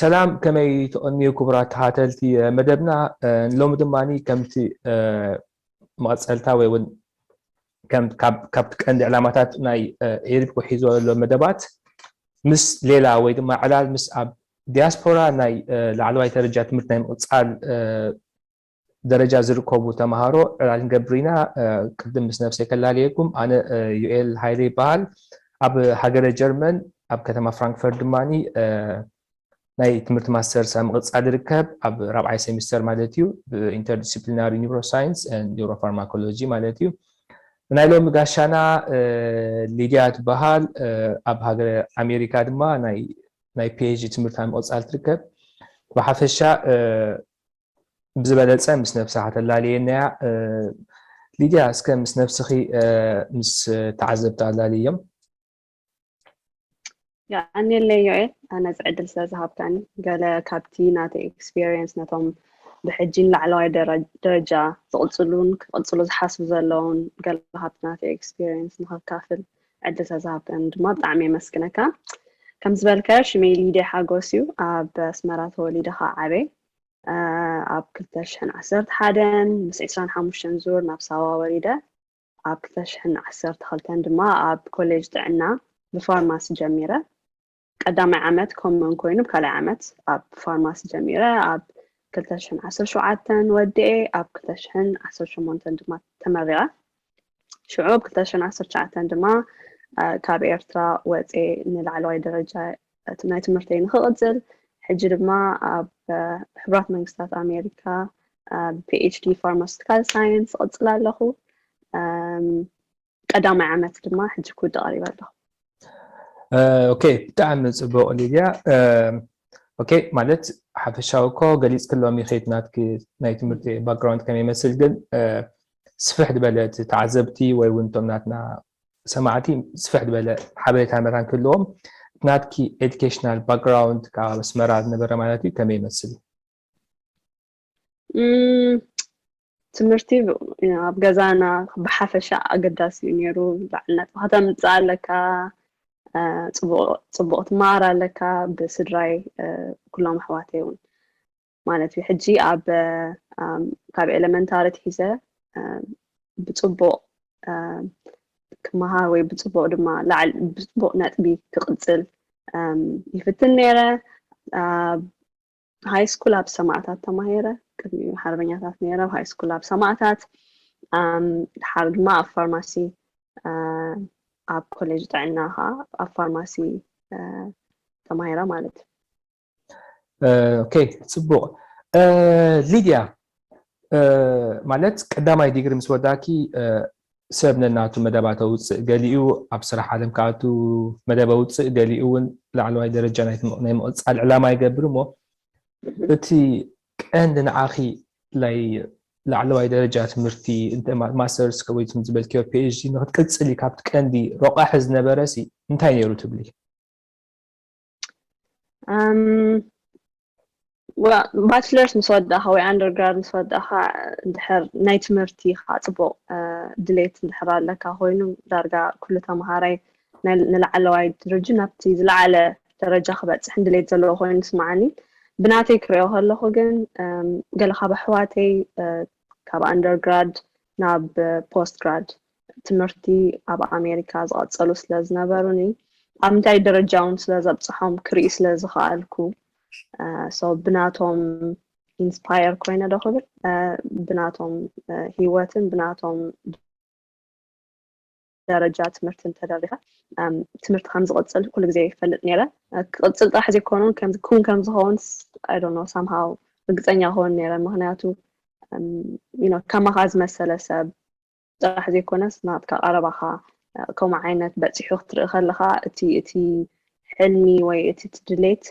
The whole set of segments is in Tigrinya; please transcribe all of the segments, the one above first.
ሰላም ከመይ ትቐንዩ ክቡራት ተኸታተልቲ መደብና ሎሚ ድማ ከምቲ መቐፀልታ ወይ እውን ካብቲ ቀንዲ ዕላማታት ናይ ኤሪፕኮ ሒዞ ዘሎ መደባት ምስ ሌላ ወይ ድማ ዕላል ምስ ኣብ ዲያስፖራ ናይ ላዕለዋይ ደረጃ ትምህርቲ ናይ ምቕፃል ደረጃ ዝርከቡ ተምሃሮ ዕላል ክንገብር ኢና ቅድም ምስ ነብሰይ ከላለየኩም ኣነ ዩኤል ሃይለ ይበሃል ኣብ ሃገረ ጀርመን ኣብ ከተማ ፍራንክፈርት ድማ ናይ ትምህርቲ ማስተርስ ኣብ ምቕጻል ይርከብ፣ ኣብ ራብዓይ ሴሚስተር ማለት እዩ፣ ብኢንተርዲስፕሊናሪ ኒውሮሳይንስ ኤንድ ኒውሮፋርማኮሎጂ ማለት እዩ። ናይ ሎሚ ጋሻና ሊድያ ትበሃል፣ ኣብ ሃገረ ኣሜሪካ ድማ ናይ ፒኤችዲ ትምህርቲ ኣብ ምቕጻል ትርከብ። ብሓፈሻ ብዝበለጸ ምስ ነብሳ ከተላለየናያ ሊድያ፣ እስከ ምስ ነብስኺ ምስ ተዓዘብቲ ኣላልዮም። የቀንየለይ ዮኤል ነዚ ዕድል ስለ ዝሃብካኒ ገለ ካብቲ ናተይ ኤክስፔሪየንስ ነቶም ብሕጂን ላዕለዋይ ደረጃ ዝቕፅሉን ክቕፅሉ ዝሓስቡ ዘለውን ገለ ካብቲ ናተይ ኤክስፔሪየንስ ንኸካፍል ዕድል ስለ ዝሃብካኒ ድማ ብጣዕሚ የመስግነካ ከም ዝበልካዮ ሽመይ ሊደ ሓጎስ እዩ ኣብ ኣስመራ ተወሊደ ከዓ ዓበ ኣብ ክልተ ሽሕን ዓሰርተ ሓደን ምስ ዕስራን ሓሙሽተን ዙር ናብ ሳዋ ወሪደ ኣብ ክልተ ሽሕን ዓሰርተ ክልተን ድማ ኣብ ኮሌጅ ጥዕና ብፋርማሲ ጀሚረ ቀዳማይ ዓመት ኮመን ኮይኑ ካልኣይ ዓመት ኣብ ፋርማሲ ጀሚረ ኣብ ክልተ ሽሕን ዓሰርተ ሸውዓተን ወዲኤ ኣብ ክልተ ሽሕን ዓሰርተ ሸሞንተን ድማ ተመሪቐ ሽዑ ኣብ ክልተ ሽሕን ዓሰርተ ትሽዓተን ድማ ካብ ኤርትራ ወፅኤ ንላዕለዋይ ደረጃ እቲ ናይ ትምህርተይ ንክቕፅል ሕጂ ድማ ኣብ ሕቡራት መንግስታት ኣሜሪካ ብፒኤችዲ ፋርማስቲካል ሳይንስ እቕፅል ኣለኹ ቀዳማይ ዓመት ድማ ሕጂ ክውድእ ቀሪበ ኣለኹ ኦኬ ብጣዕሚ ፅቡቕ ሊድያ ኦኬ ማለት ሓፈሻዊ እኮ ገሊፅ ክሎም ይኸይድ ናትኪ ናይ ትምህርቲ ባክግራውንድ ከመይ ይመስል ግን ስፍሕ ዝበለ ተዓዘብቲ ወይ እውን እቶም ናትና ሰማዕቲ ስፍሕ ዝበለ ሓበሬታን መታን ክህልዎም እቲ ናትኪ ኤዱኬሽናል ባክግራውንድ ካብ ኣብ ኣስመራ ዝነበረ ማለት እዩ ከመይ ይመስል እዩ? ትምህርቲ ኣብ ገዛና ብሓፈሻ ኣገዳሲ እዩ ነይሩ በዓል ነጥቢ ከተምፅእ ኣለካ ፅቡቕ ትመሃር ኣለካ ብስድራይ ኩሎም ኣሕዋተይ እውን ማለት እዩ ሕጂ ኣብ ካብ ኤለመንታሪ ትሒዘ ብፅቡቕ ክመሃር ወይ ብፅቡቕ ድማ ላዕሊ ብፅቡቕ ነጥቢ ክቕፅል ይፍትን ነይረ ሃይ ስኩል ኣብ ሰማዕታት ተማሂረ ቅድሚ ሓርበኛታት ነይረ ሃይ ስኩል ኣብ ሰማዕታት ድሓር ድማ ኣብ ፋርማሲ ኣብ ኮሌጅ ጥዕና ከዓ ኣብ ፋርማሲ ተማሂረ ማለት እዩ ኦኬ ጽቡቕ ሊድያ ማለት ቀዳማይ ዲግሪ ምስ ወዳኪ ሰብ ነናቱ መደባት ኣውፅእ ገሊኡ ኣብ ስራሕ ዓለም ክኣቱ መደብ ኣውፅእ ገሊኡ እውን ላዕለዋይ ደረጃ ናይ ምቕፃል ዕላማ ይገብር እሞ እቲ ቀንዲ ንዓኺ ላይ ላዕለዋይ ደረጃ ትምህርቲ ማስተርስ ወይ ዝበልክዮ ፒኤችዲ ንክትቅፅሊ ካብቲ ቀንዲ ረቋሒ ዝነበረ ሲ እንታይ ነይሩ ትብሊ? ባችለርስ ምስ ወዳእኻ ወይ ኣንደርግራድ ምስ ወዳእኻ እንድሕር ናይ ትምህርቲ ኻ ፅቡቕ ድሌት እንድሕር ኣለካ ኮይኑ ዳርጋ ኩሉ ተምሃራይ ንላዕለዋይ ድርጅ ናብቲ ዝለዓለ ደረጃ ክበፅሕን ድሌት ዘለዎ ኮይኑ ይስማዓኒ ብናተይ ክሪኦ ከለኹ ግን ገለ ካብ ኣሕዋተይ ካብ ኣንደርግራድ ናብ ፖስት ግራድ ትምህርቲ ኣብ ኣሜሪካ ዝቐጸሉ ስለ ዝነበሩኒ ኣብ ምንታይ ደረጃ እውን ስለ ዘብፅሖም ክርኢ ስለ ዝኸኣልኩ ሶ ብናቶም ኢንስፓየር ኮይነ ዶ ክብል ብናቶም ሂወትን ብናቶም ደረጃ ትምህርቲ እንተደሪኸ ትምህርቲ ከም ዝቕፅል ኩሉ ግዜ ይፈልጥ ነይረ ክቕፅል ጥራሕ ዘይኮኑ ከምዚ ክውን ከም ዝኸውን ኣይዶኖ ሳምሃው ርግፀኛ ክኸውን ነይረ ምክንያቱ ከማኻ ዝመሰለ ሰብ ጥራሕ ዘይኮነስ ናትካ ቀረባኻ ከምኡ ዓይነት በፂሑ ክትርኢ ከለካ እቲ እቲ ሕልሚ ወይ እቲ ድሌት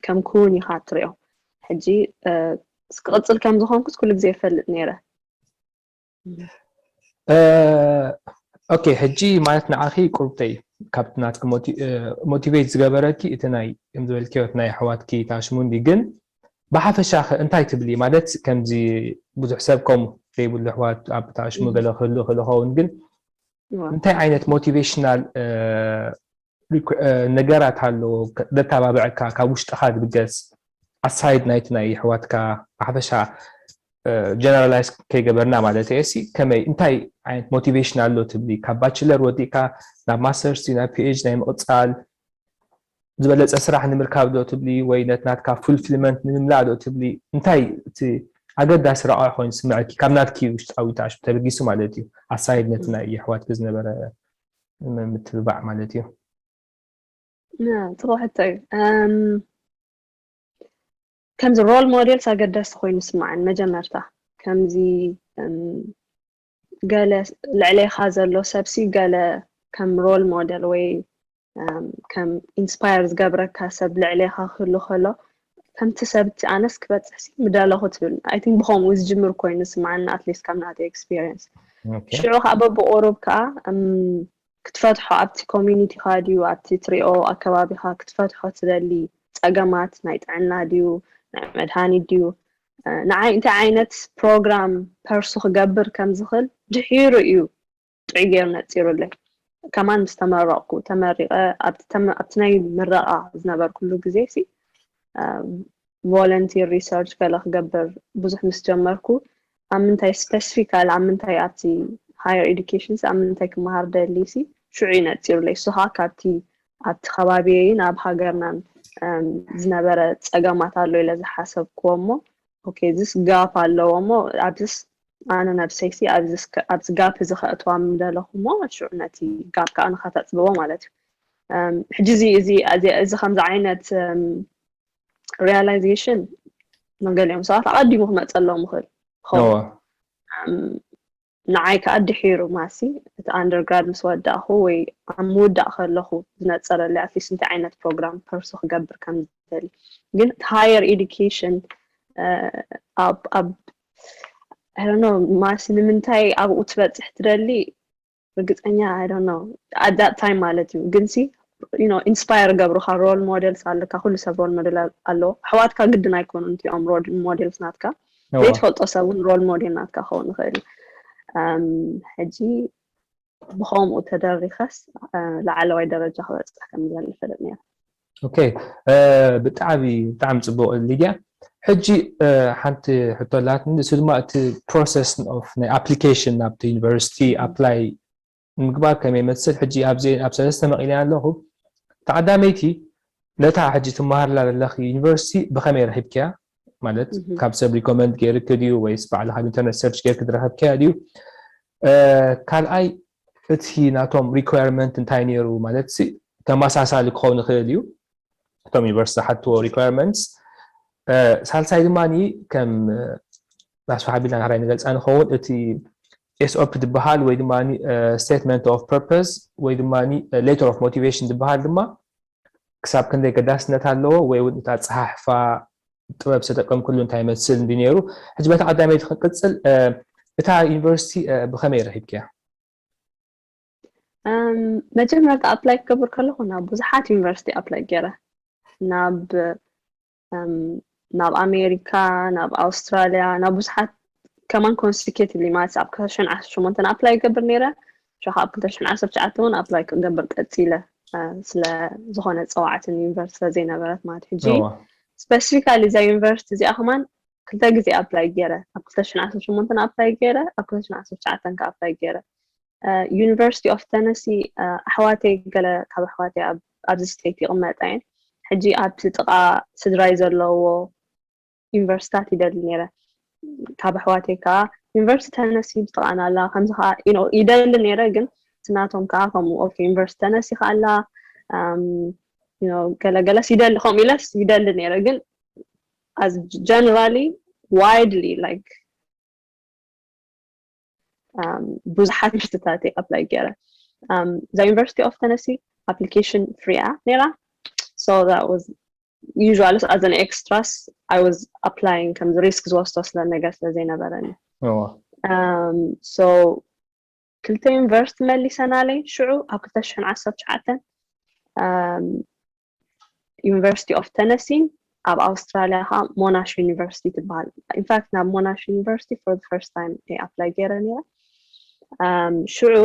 ከም ክውን ኢኻ ትሪኦ ሕጂ ክቕፅል ከም ዝኾንኩስ ኩሉ ግዜ ይፈልጥ ነይረ ኦኬ ሕጂ ማለት ንዓኺ ቁርብተይ ካብቲ ናትኪ ሞቲቬት ዝገበረኪ እቲ ናይ ከም ዝበልክዮ ናይ ኣሕዋትኪ ታሽሙንዲ ግን ብሓፈሻ ኸ እንታይ ትብሊ ማለት ከምዚ ብዙሕ ሰብ ከምኡ ዘይብሉ ኣሕዋት ኣብ ታሽሙ ገለ ክህሉ ክእል ኸውን ግን እንታይ ዓይነት ሞቲቬሽናል ነገራት ኣሎ ደተባብዐካ ካብ ውሽጥኻ ዝብገስ ኣሳይድ ናይቲ ናይ የሕዋትካ ብሓፈሻ ጀነራላይዝ ከይገበርና ማለት እየ ሲ ከመይ እንታይ ዓይነት ሞቲቬሽን ኣሎ ትብሊ ካብ ባችለር ወዲእካ ናብ ማስተርስ ናብ ፒኤች ናይ ምቕፃል ዝበለፀ ስራሕ ንምርካብ ዶ ትብሊ ወይ ነት ናትካ ፉልፊልመንት ንምምላእ ዶ ትብሊ እንታይ እቲ ኣገዳሲ ረቋ ኮይኑ ስምዐኪ ካብ ናትኪ ውሽጣዊ ተበጊሱ ማለት እዩ ኣሳይድ ነቲ ናይ የሕዋትኪ ዝነበረ ምትብባዕ ማለት እዩ ጥሩ ሕቶ እዩ ከምዚ ሮል ሞዴልስ ኣገዳሲ ኮይኑ ስማዕን መጀመርታ ከምዚ ገለ ልዕሌኻ ዘሎ ሰብሲ ገለ ከም ሮል ሞዴል ወይ ከም ኢንስፓየር ዝገብረካ ሰብ ልዕሌኻ ክህሉ ከሎ ከምቲ ሰብቲ ኣነስ ክበጽሕ ሲ ምደለኹ ትብል ኣይ ቲንክ ብኸምኡ ዝጅምር ኮይኑ ዝስምዓኒ ኣትሊስት ካብ ናተይ ኤክስፒሪየንስ ሽዑ ከዓ በብቑሩብ ከዓ ክትፈትሖ ኣብቲ ኮሚኒቲኻ ድዩ ኣብቲ ትሪኦ ኣከባቢኻ ክትፈትሖ ትደሊ ፀገማት ናይ ጥዕና ድዩ ናይ መድሃኒት ድዩ ንዓይ እንታይ ዓይነት ፕሮግራም ፐርሱ ክገብር ከም ዝኽእል ድሒሩ እዩ ጥዑይ ገይሩ ነጺሩለይ። ከማን ምስ ተመረቕኩ ተመሪቐ ኣብቲ ናይ ምረቓ ዝነበርኩሉ ግዜሲ ቮለንቲር ሪሰርች ገለ ክገብር ብዙሕ ምስ ጀመርኩ ኣብ ምንታይ ስፔሲፊካሊ ኣብ ምንታይ ኣብቲ ሃየር ኤዱኬሽንስ ኣብ ምንታይ ክመሃር ደልይሲ ሽዑ እዩ ነፂሩለይ እሱ ከዓ ካብቲ ኣብቲ ከባቢየይን ኣብ ሃገርናን ዝነበረ ፀገማት ኣሎ ኢለ ዝሓሰብክዎ እሞ ኦኬ እዚስ ጋፕ ኣለዎ እሞ ኣብዚስ ኣነ ነብሰይሲ ኣብዚ ጋፕ እዚ ከእትዋ ምደለኹ እሞ ሽዑ ነቲ ጋፕ ከዓ ንኸተፅብቦ ማለት እዩ ሕጂ እዚ እዚ እዚ ከምዚ ዓይነት ሪያላይዜሽን መገሊኦም ሰባት ኣቐዲሙ ክመፀሎም ይኽእል ይኸውን ንዓይ ከኣ ድሒሩ ማሲ እቲ ኣንደርግራድ ምስ ወዳእኩ ወይ ኣብ ምውዳእ ከለኹ ዝነጸረለይ ኣትሊስት እንታይ ዓይነት ፕሮግራም ፐርሱ ክገብር ከም ዝደሊ ግን እቲ ሃየር ኤዱኬሽን ኣብ ኣብ ኣይዶኖ ማሲ ንምንታይ ኣብኡ ትበጽሕ ትደሊ ርግጸኛ ኣይዶኖ ኣት ዳት ታይም ማለት እዩ ግን ሲ ዩኖ ኢንስፓየር ገብሩካ ሮል ሞዴልስ ኣለካ ኩሉ ሰብ ሮል ሞዴል ኣለዎ ኣሕዋትካ ግድን ኣይኮኑ እንቲኦም ሮል ሞዴልስ ናትካ ዘይትፈልጦ ሰብ እውን ሮል ሞዴል ናትካ ክኸውን ይኽእል እዩ ሕጂ ብከምኡ ተደሪኸስ ላዕለዋይ ደረጃ ክበፅሕ ከም ዝደሊ ይፈልጥ ነይረ ኦኬ ብጣዕሚ ብጣዕሚ ፅቡቅ ሊድያ ሕጂ ሓንቲ ሕቶ ኣላትኒ ንሱ ድማ እቲ ፕሮሰስ ኦፍ ናይ ኣፕሊኬሽን ናብቲ ዩኒቨርሲቲ ኣፕላይ ምግባር ከመይ ይመስል ሕጂ ኣብዚኤን ኣብ ሰለስተ መቂለየን ኣለኹ ተዓዳመይቲ ነታ ሕጂ ትመሃርላ ዘለኺ ዩኒቨርሲቲ ብኸመይ ረኺብክያ ማለት ካብ ሰብ ሪኮመንድ ገይርኪ ድዩ ወይስ ባዕልኻ ኣብ ኢንተርነት ሰርች ገይርኪ ዝረኸብክያ ድዩ ካልኣይ እቲ ናቶም ሪኳርመንት እንታይ ነይሩ ማለት ተመሳሳሊ ክኸውን ይኽእል እዩ እቶም ዩኒቨርስቲ ሓትዎ ሪኳርመንትስ ሳልሳይ ድማ ከም ናሱ ሓቢርና ዳሕራይ ንገልጻ ንኸውን እቲ ኤስኦፒ ዝበሃል ወይ ድማ ስቴትመንት ኦፍ ፐርፐስ ወይ ድማ ሌተር ኦፍ ሞቲቬሽን ዝበሃል ድማ ክሳብ ክንደይ ገዳስነት ኣለዎ ወይ እውን እቲ ኣፀሓሕፋ ጥበብ ዝተጠቀምክሉ እንታይ ይመስል እንዲ ነይሩ ሕጂ በታ ቀዳመይቲ ክንቅፅል እታ ዩኒቨርሲቲ ብኸመይ ረኺብክያ መጀመርታ ኣፕላይ ክገብር ከለኹ ናብ ብዙሓት ዩኒቨርሲቲ ኣፕላይ ገይረ ናብ ናብ ኣሜሪካ ናብ ኣውስትራልያ ናብ ብዙሓት ከማን ኮንስቲኬትሊ ማለት ኣብ ክልተሽን ዓሰርተ ሸሞንተን ኣፕላይ ይገብር ነይረ ሸ ኣብ ክልተሽን ዓሰርተ ትሽዓተ እውን ኣፕላይ ክገብር ቀፂለ ስለዝኾነ ፀዋዕትን ዩኒቨርስቲ ስለዘይነበረት ማለት ሕጂ ስፐሲፊካሊ እዛ ዩኒቨርስቲ እዚኣ ከማን ክልተ ግዜ ኣፕላይ ገይረ ኣብ ክልተሽን ዓሰርተ ሸሞንተን ኣፕላይ ገይረ ኣብ ክልተሽን ዓሰርተ ትሽዓተን ከ ኣፕላይ ገይረ ዩኒቨርሲቲ ኦፍ ተነሲ ኣሕዋተይ ገለ ካብ ኣሕዋተይ ኣብዚ ስተይት ይቕመጣ እየን ሕጂ ኣብቲ ጥቓ ስድራይ ዘለዎ ዩኒቨርሲታት ይደሊ ነይረ ካብ ኣሕዋተይ ከዓ ዩኒቨርሲቲ ተነሲ ብጥቓና ኣላ ከምዚ ከዓ ይደሊ ነይረ ግን ትናቶም ከዓ ከምኡ ኦኬ ዩኒቨርሲቲ ተነሲ ከዓ ኣላ ገለገለስ ይደሊ ከምኡ ኢለስ ይደሊ ነይረ ግን ኣዝ ጀነራሊ ዋይድሊ ላይክ ብዙሓት ዩኒቨርሲቲታት እየ ኣፕላይ ገይረ እዛ ዩኒቨርሲቲ ኦፍ ተነሲ ኣፕሊኬሽን ፍሪ እያ ነይራ ሶ ዩዥዋሊ ኣዘ ን ኤክስትራስ ኣይ ዋዝ ኣፕላይን ከምዚ ሪስክ ዝወስዶ ስለ ነገር ስለ ዘይነበረኒ ሶ ክልተ ዩኒቨርሲቲ መሊሰናለይ ሽዑ ኣብ ክልተ ሽሕን ዓሰርተ ትሽዓተን ዩኒቨርሲቲ ኦፍ ተነሲን ኣብ ኣውስትራልያ ከዓ ሞናሽ ዩኒቨርሲቲ ትበሃል ኢንፋክት ናብ ሞናሽ ዩኒቨርሲቲ ፎር ፈርስት ታይም እየ ኣፕላይ ገይረ ነይረ ሽዑ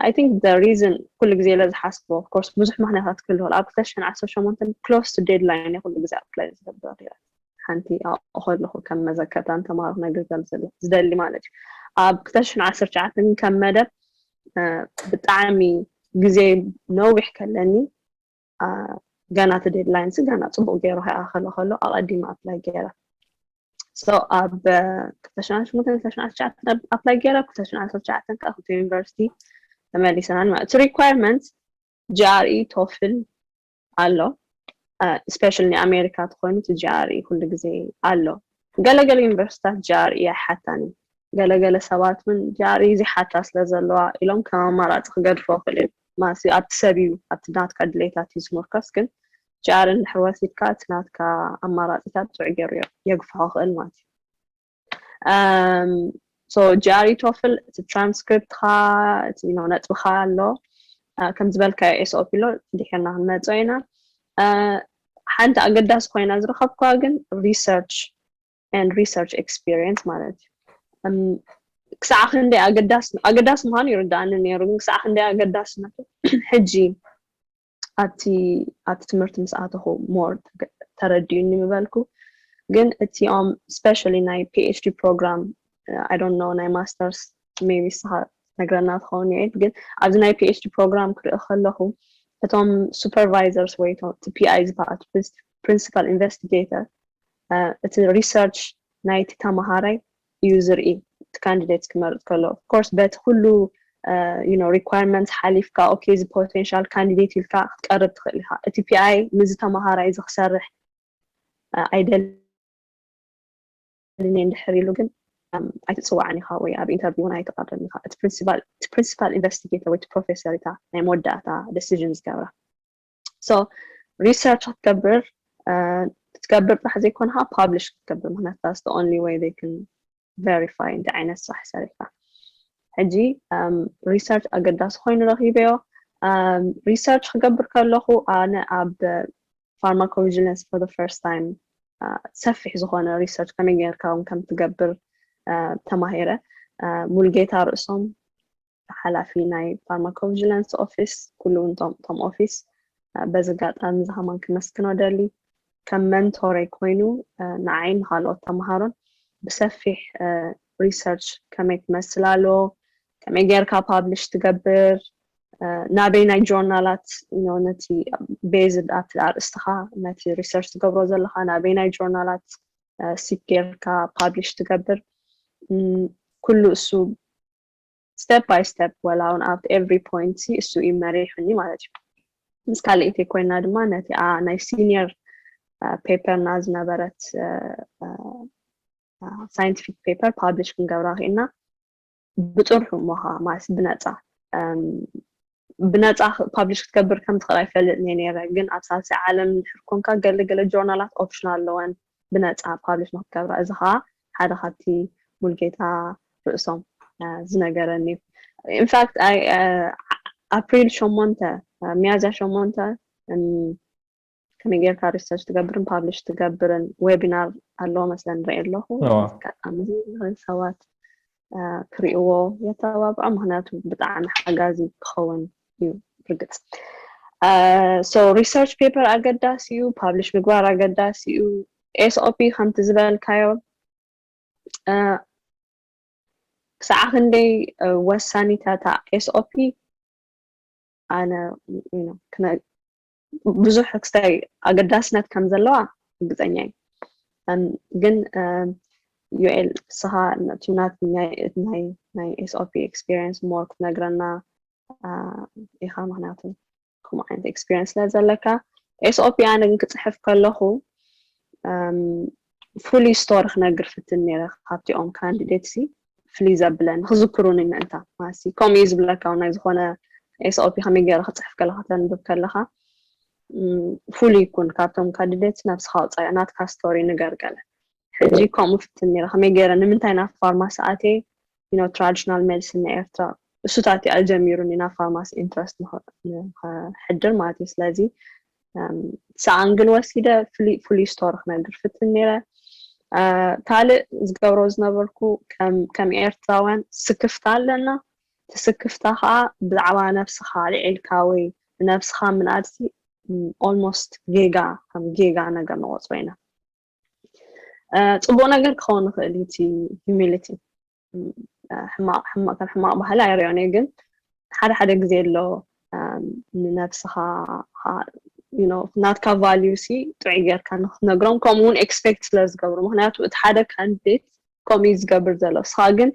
ኣይ ቲንክ ዘ ሪዝን ኩሉ ግዜ ኢለ ዝሓስቦ ኮርስ ብዙሕ ምክንያታት ክህልዎ ኣብ ክልተ ሽሕን ዓሰርተ ሸሞንተን ክሎስ ቱ ዴድላይን እየ ኩሉ ግዜ ኣፕላይ ዝገብረ ነይረ ሓንቲ ኣብኡ ከለኹ ከም መዘከርታ ንተምሃሮ ክነግር ዝደሊ ማለት እዩ ኣብ ክልተ ሽሕን ዓሰርተ ትሽዓተን ከም መደብ ብጣዕሚ ግዜ ነዊሕ ከለኒ ገና እቲ ዴድላይን ሲ ገና ፅቡቅ ገይሩ ከይኣኸለ ከሎ ኣቐዲመ ኣፕላይ ገይረ ሶ ኣብ ክልተ ሽሕን ሽሞንተን ክልተ ሽሕን ዓሰርተ ትሽዓተን ኣፕላይ ገይረ ክልተ ሽሕን ዓሰርተ ትሽዓተን ከዓ ክልተ ዩኒቨርሲቲ ተመሊሰናል ማለት እቲ ሪኳየርመንት ጂኣርኢ ቶፍል ኣሎ ስፔሻል ናይ ኣሜሪካ ተኮይኑ እቲ ጂኣር እዩ ኩሉ ግዜ ኣሎ ገለገለ ዩኒቨርሲታት ጂኣር እዩ ኣይሓታን እዩ ገለገለ ሰባት እውን ጂኣር እዩ ዘይሓታ ስለ ዘለዋ ኢሎም ከም ኣማራፂ ክገድፎ ክእል እዩ ማሲ ኣብቲ ሰብ እዩ ኣብቲ ናትካ ድሌታት እዩ ዝምርኮስ ግን ጂኣር እንድሕር ወሲድካ እቲ ናትካ ኣማራፂታት ጥዑይ ገይሩ የግፍሖ ክእል ማለት እዩ ሶ ጂኣሪ ቶፍል እቲ ትራንስክሪፕትካ እቲ ነጥብካ ኣሎ ከም ዝበልካዮ ኤስኦፒ ኣሎ ድሒርና ክንመፆ ኢና ሓንቲ ኣገዳሲ ኮይና ዝረኸብኩዋ ግን ሪሰርች ን ሪሰርች ኤክስፒሪንስ ማለት እዩ ክሳዕ ክንደይ ኣገዳሲ ኣገዳሲ ምዃኑ ይርዳእኒ ነይሩ ግን ክሳዕ ክንደይ ኣገዳስነቱ ሕጂ ኣብቲ ኣብቲ ትምህርቲ ምስ ኣተኹ ሞር ተረዲኡኒ ምበልኩ ግን እቲኦም ስፔሻሊ ናይ ፒኤችዲ ፕሮግራም ኣይ ዶንት ኖ ናይ ማስተርስ ሜቢ ንስኻ ነግረና ትኸውን ይዒድ ግን ኣብዚ ናይ ፒኤችዲ ፕሮግራም ክርኢ ከለኹ እቶም ሱፐርቫይዘርስ ወይ እቲ ፒኣይ ዝበሃል ፕሪንሲፓል ኢንቨስቲጌተር እቲ ሪሰርች ናይቲ ተምሃራይ እዩ ዝርኢ እቲ ካንዲደትስ ክመርፅ ከሎ of course በቲ ኩሉ you know requirements ሓሊፍካ ኦኬ እዚ potential candidate ኢልካ ክትቀርብ ትኽእል ኢኻ እቲ PI ምስዚ ተምሃራይ እዚ ክሰርሕ ኣይደልን እየ እንድሕር ኢሉ ግን ኣይትፅዋዕን ኢኻ ወይ ኣብ ኢንተርቪው እውን ኣይትቐርብን ኢኻ እቲ ፕሪንሲፓል ኢንቨስቲጌተር ወይ እቲ ፕሮፌሰር እታ ናይ መወዳእታ ደሲዥን ዝገብራ ሶ ሪሰርች ክትገብር ክትገብር ጥራሕ ዘይኮንካ ፓብሊሽ ክትገብር ምክንያቱ ዳስ ደ ኦንሊ ወይ ዘይ ክን ቨሪፋይ እንታይ ዓይነት ስራሕ ሰሪሕካ ሕጂ ሪሰርች ኣገዳሲ ኮይኑ ረኪበዮ ሪሰርች ክገብር ከለኹ ኣነ ኣብ ፋርማኮቪጂለንስ ፎር ዘ ፈርስት ታይም ሰፊሕ ዝኾነ ሪሰርች ከመይ ጌርካ እውን ከም ትገብር ተማሂረ ሙልጌታ ርእሶም ሓላፊ ናይ ፋርማኮቭጅላንስ ኦፊስ ኩሉ ውን ቶም ቶም ኦፊስ በዚ ኣጋጣሚ እዚ ከማን ክመስግኖ ደሊ ከም መንቶረይ ኮይኑ ንዓይን ንካልኦት ተምሃሮን ብሰፊሕ ሪሰርች ከመይ ትመስል ኣሎ ከመይ ጌርካ ፓብሊሽ ትገብር ናበይ ናይ ጆርናላት ነቲ ቤዝ ኣብቲ ኣርእስትኻ ነቲ ሪሰርች ትገብሮ ዘለኻ ናበይ ናይ ጆርናላት ሲክ ጌርካ ፓብሊሽ ትገብር ኩሉ እሱ ስተፕ ባይ ስተፕ ወላውን ኣብቲ ኤቭሪ ፖይንት ሲ እሱ እዩ መሪሑኒ ማለት እዩ ምስ ካልኢተይ ኮይና ድማ ነቲኣ ናይ ሲኒየር ፔፐርና ዝነበረት ሳይንቲፊክ ፔፐር ፓብሊሽ ክንገብራ ክኢልና ብፅርሑ ሞኻ ማለት ብነፃ ብነጻ ፓብሊሽ ክትገብር ከም ትኽእል ኣይፈልጥን እየ ነይረ፣ ግን ኣብ ሳልሳይ ዓለም እንድሕር ኰንካ ገለ ገለ ጆርናላት ኦፕሽን ኣለወን ብነጻ ፓብሊሽ ንኽትገብራ፣ እዚ ኸኣ ሓደ ካብቲ ሙልጌታ ርእሶም ዝነገረኒ እዩ። ኢንፋክት ኣፕሪል ሸሞንተ ሚያዝያ ሸሞንተ ከመይ ጌርካ ሪሰርች ትገብርን ፓብሊሽ ትገብርን ዌቢናር ኣለዎ መስለን ንርኢ ኣለኹ ኣጋጣሚ ዝኽእል ሰባት ክሪእዎ የተባብዖ ምክንያቱ ብጣዕሚ ሓጋዚ ክኸውን እዩ ርግፅ ሶ ሪሰርች ፔፐር ኣገዳሲ እዩ ፓብሊሽ ምግባር ኣገዳሲ እዩ ኤስኦፒ ከምቲ ዝበልካዮ ክሳዕ ክንደይ ወሳኒታታ ኤስኦፒ ኣነ ብዙሕ ክስታይ ኣገዳስነት ከም ዘለዋ ርግፀኛ እዩ ግን ዩኤል ንስኻ ነቲ ናት ናይ ናይ ኤስኦፒ ኤክስፒሪንስ ሞር ክትነግረና ኢኻ ምክንያቱ ከምኡ ዓይነት ኤክስፒሪንስ ስለ ዘለካ ኤስኦፒ ኣነ ግን ክፅሕፍ ከለኹ ፍሉይ ስቶሪ ክነግር ፍትን ነረ ካብቲኦም ካንዲዴት ሲ ፍልይ ዘብለ ንክዝክሩኒ ምእንታ ማሲ ከምኡ እዩ ዝብለካ ናይ ዝኾነ ኤስኦፒ ከመይ ገይረ ክፅሕፍ ከለካ ተንብብ ከለካ ፍሉይ ይኩን ካብቶም ካድደት ነብስካ ውፃኢ ናትካ ስቶሪ ንገር ገለ ሕጂ ከምኡ ፍትን ነረ ከመይ ገይረ ንምንታይ ናብ ፋርማሲ ኣቴ ኖ ትራዲሽናል ሜዲሲን ናይ ኤርትራ እሱታት እዩ ኣጀሚሩኒ ናብ ፋርማሲ ኢንትረስት ንክሕድር ማለት እዩ ስለዚ ሰኣንግል ወሲደ ፍሉይ ፍሉይ ስቶሪ ክነግር ፍትን ነይረ ካልእ ዝገብሮ ዝነበርኩ ከም ኤርትራውያን ስክፍታ ኣለና እቲ ስክፍታ ከዓ ብዛዕባ ነብስኻ ኣልዒልካ ወይ ንነብስኻ ምንኣድሲ ኦልሞስት ጌጋ ከም ጌጋ ነገር ንቆፅሮ ኢና ፅቡቅ ነገር ክኸውን ይኽእል እዩ እቲ ሂሚሊቲ ሕማቕ ሕማቕ ከም ሕማቕ ባህሊ ኣይሪኦን እየ ግን ሓደ ሓደ ግዜ ኣሎ ንነብስኻ ናትካ ቫልዩ ሲ ጥዑይ ጌርካ ንክትነግሮም ከምኡ እውን ኤክስፔክት ስለ ዝገብሩ ምክንያቱ እቲ ሓደ ካንዲዴት ከምኡ እዩ ዝገብር ዘሎ እስኻ ግን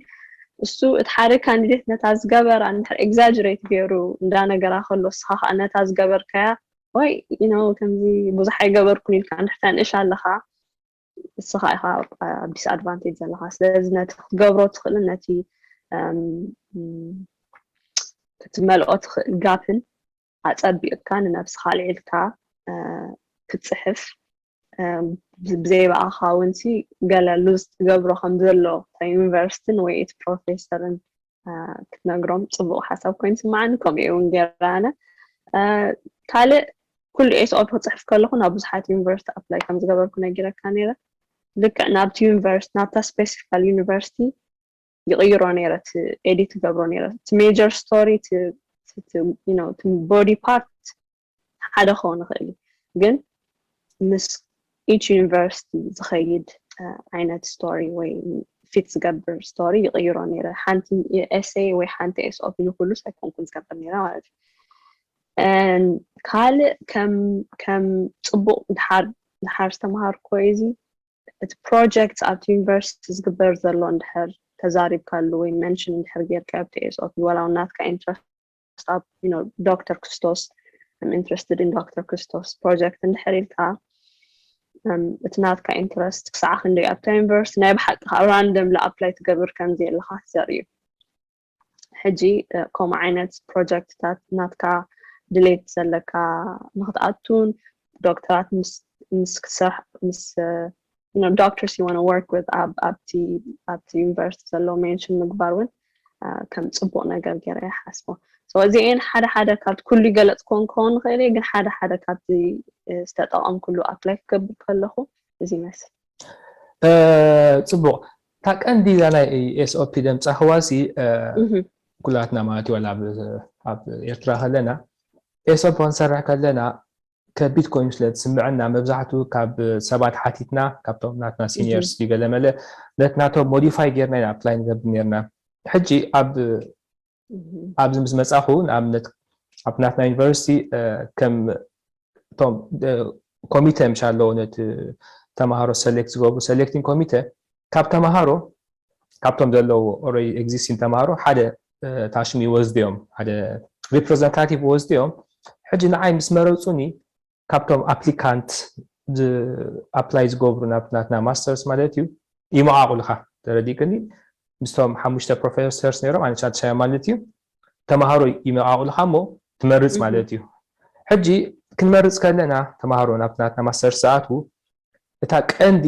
እሱ እቲ ሓደ ካንዲዴት ነታ ዝገበራ ንድሕር ኤግዛጅሬት ገይሩ እንዳ ነገራ ከሎ እስኻ ከዓ ነታ ዝገበርካያ ወይ ከምዚ ብዙሕ ኣይገበርኩን ኢልካ ንድሕር ተንእሽ ኣለኻ ንስኻ ኢኻ ኣብ ዲስኣድቫንቴጅ ዘለኻ ስለዚ ነቲ ክትገብሮ ትኽእልን ነቲ ክትመልኦ ትኽእል ጋፕን ኣፀቢቕካ ንነብስኻ ኣልዒልካ ክትፅሕፍ ብዘይ በኣኻ እውን ሲ ገለ ሉዝ ትገብሮ ከም ዘሎ ዩኒቨርሲቲን ወይ እቲ ፕሮፌሰርን ክትነግሮም ፅቡቅ ሓሳብ ኮይኑ ስማዓኒ ከምኡ እውን ገይረ ኣነ ካልእ ኩሉ ኤስኦል ክፅሕፍ ከለኹ ናብ ብዙሓት ዩኒቨርሲቲ ኣፕላይ ከም ዝገበርኩ ነጊረካ ነይረ ልክዕ ናብቲ ዩኒቨርሲቲ ናብታ ስፔሲፊካል ዩኒቨርሲቲ ይቕይሮ ነይረ እቲ ኤዲት ገብሮ ነይረ እቲ ሜጀር ስቶሪ እቲ ቦዲ ፓርት ሓደ ክኸውን ይኽእል እዩ ግን ምስ ኢች ዩኒቨርሲቲ ዝኸይድ ዓይነት ስቶሪ ወይ ፊት ዝገብር ስቶሪ ይቕይሮ ነይረ ሓንቲ ኤሰይ ወይ ሓንቲ ኤስኦ ብዝኩሉ ሳይኮንኩን ዝገብር ነይረ ማለት እዩ ካልእ ከም ፅቡቕ ድሓር ዝተምሃርኮ እዚ እቲ ፕሮጀክት ኣብቲ ዩኒቨርሲቲ ዝግበር ዘሎ እንድሕር ተዛሪብካሉ ወይ መንሽን እንድሕር ጌርካ ኣብቲ ኤስኦ ዋላ ናትካ ኢንትረስት ክሳብ ዶክተር ክርስቶስ ኢንትረስትድ ን ዶክተር ክርስቶስ ፕሮጀክት እንድሕር ኢልካ እቲ ናትካ ኢንትረስት ክሳዕ ክንደይ ኣብታ ዩኒቨርስቲ ናይ ብሓቂ ካብ ራንደም ኣፕላይ ትገብር ከምዚ ኣለካ ትዘር እዩ ሕጂ ከምኡ ዓይነት ፕሮጀክትታት ናትካ ድሌት ዘለካ ንክትኣቱን ዶክተራት ምስ ክትሰርሕ ምስ ዶክተርስ ዩ ወርክ ዊዝ ኣብቲ ዩኒቨርሲቲ ዘሎ ሜንሽን ምግባር እውን ከም ፅቡቅ ነገር ገይረ ይሓስቦ እዚአን ሓደ ሓደ ካብ ኩሉ ይገለፅ ኮን ክኸውን ንኽእል እየ ግን ሓደ ሓደ ካብቲ ዝተጠቐምኩሉ ኣፕላይ ክገብር ከለኹ እዚ ይመስል ፅቡቅ እታ ቀንዲ እዛ ናይ ኤስኦፒ ደምፃ ህዋሲ ኩላትና ማለት እዩ ኣብ ኤርትራ ከለና ኤስኦፒ ክንሰርሕ ከለና ከቢድ ኮይኑ ስለ ዝስምዐና መብዛሕትኡ ካብ ሰባት ሓቲትና ካብቶም ናትና ሲኒየርስ ድዩ ገለመለ ነት ናቶም ሞዲፋይ ጌርና ኢና ኣፕላይ ንገብር ነርና ሕጂ ኣብ ኣብዚ ምስ መጻኹ ንኣብነት ኣብ ናትና ዩኒቨርሲቲ ከም እቶም ኮሚተ ምሻ ኣለዎ ነቲ ተምሃሮ ሰሌክት ዝገብሩ ሰሌክቲንግ ኮሚተ ካብ ተምሃሮ ካብቶም ዘለዎ ኦልሬዲ ኤግዚስቲን ተምሃሮ ሓደ ታሽሚ ወስድዮም ሓደ ሪፕሬዘንታቲቭ ወስድዮም ሕጂ ንዓይ ምስ መረፁኒ ካብቶም ኣፕሊካንት ኣፕላይ ዝገብሩ ናብ ናትና ማስተርስ ማለት እዩ ይመቓቑልካ ተረዲእክኒ ምስቶም ሓሙሽተ ፕሮፌሰርስ ነይሮም ኣነ ሻድሻያ ማለት እዩ ተምሃሮ ይመቓቑልካ እሞ ትመርፅ ማለት እዩ ሕጂ ክንመርፅ ከለና ተምሃሮ ናብ ናትና ማስተርስ ዝኣትዉ እታ ቀንዲ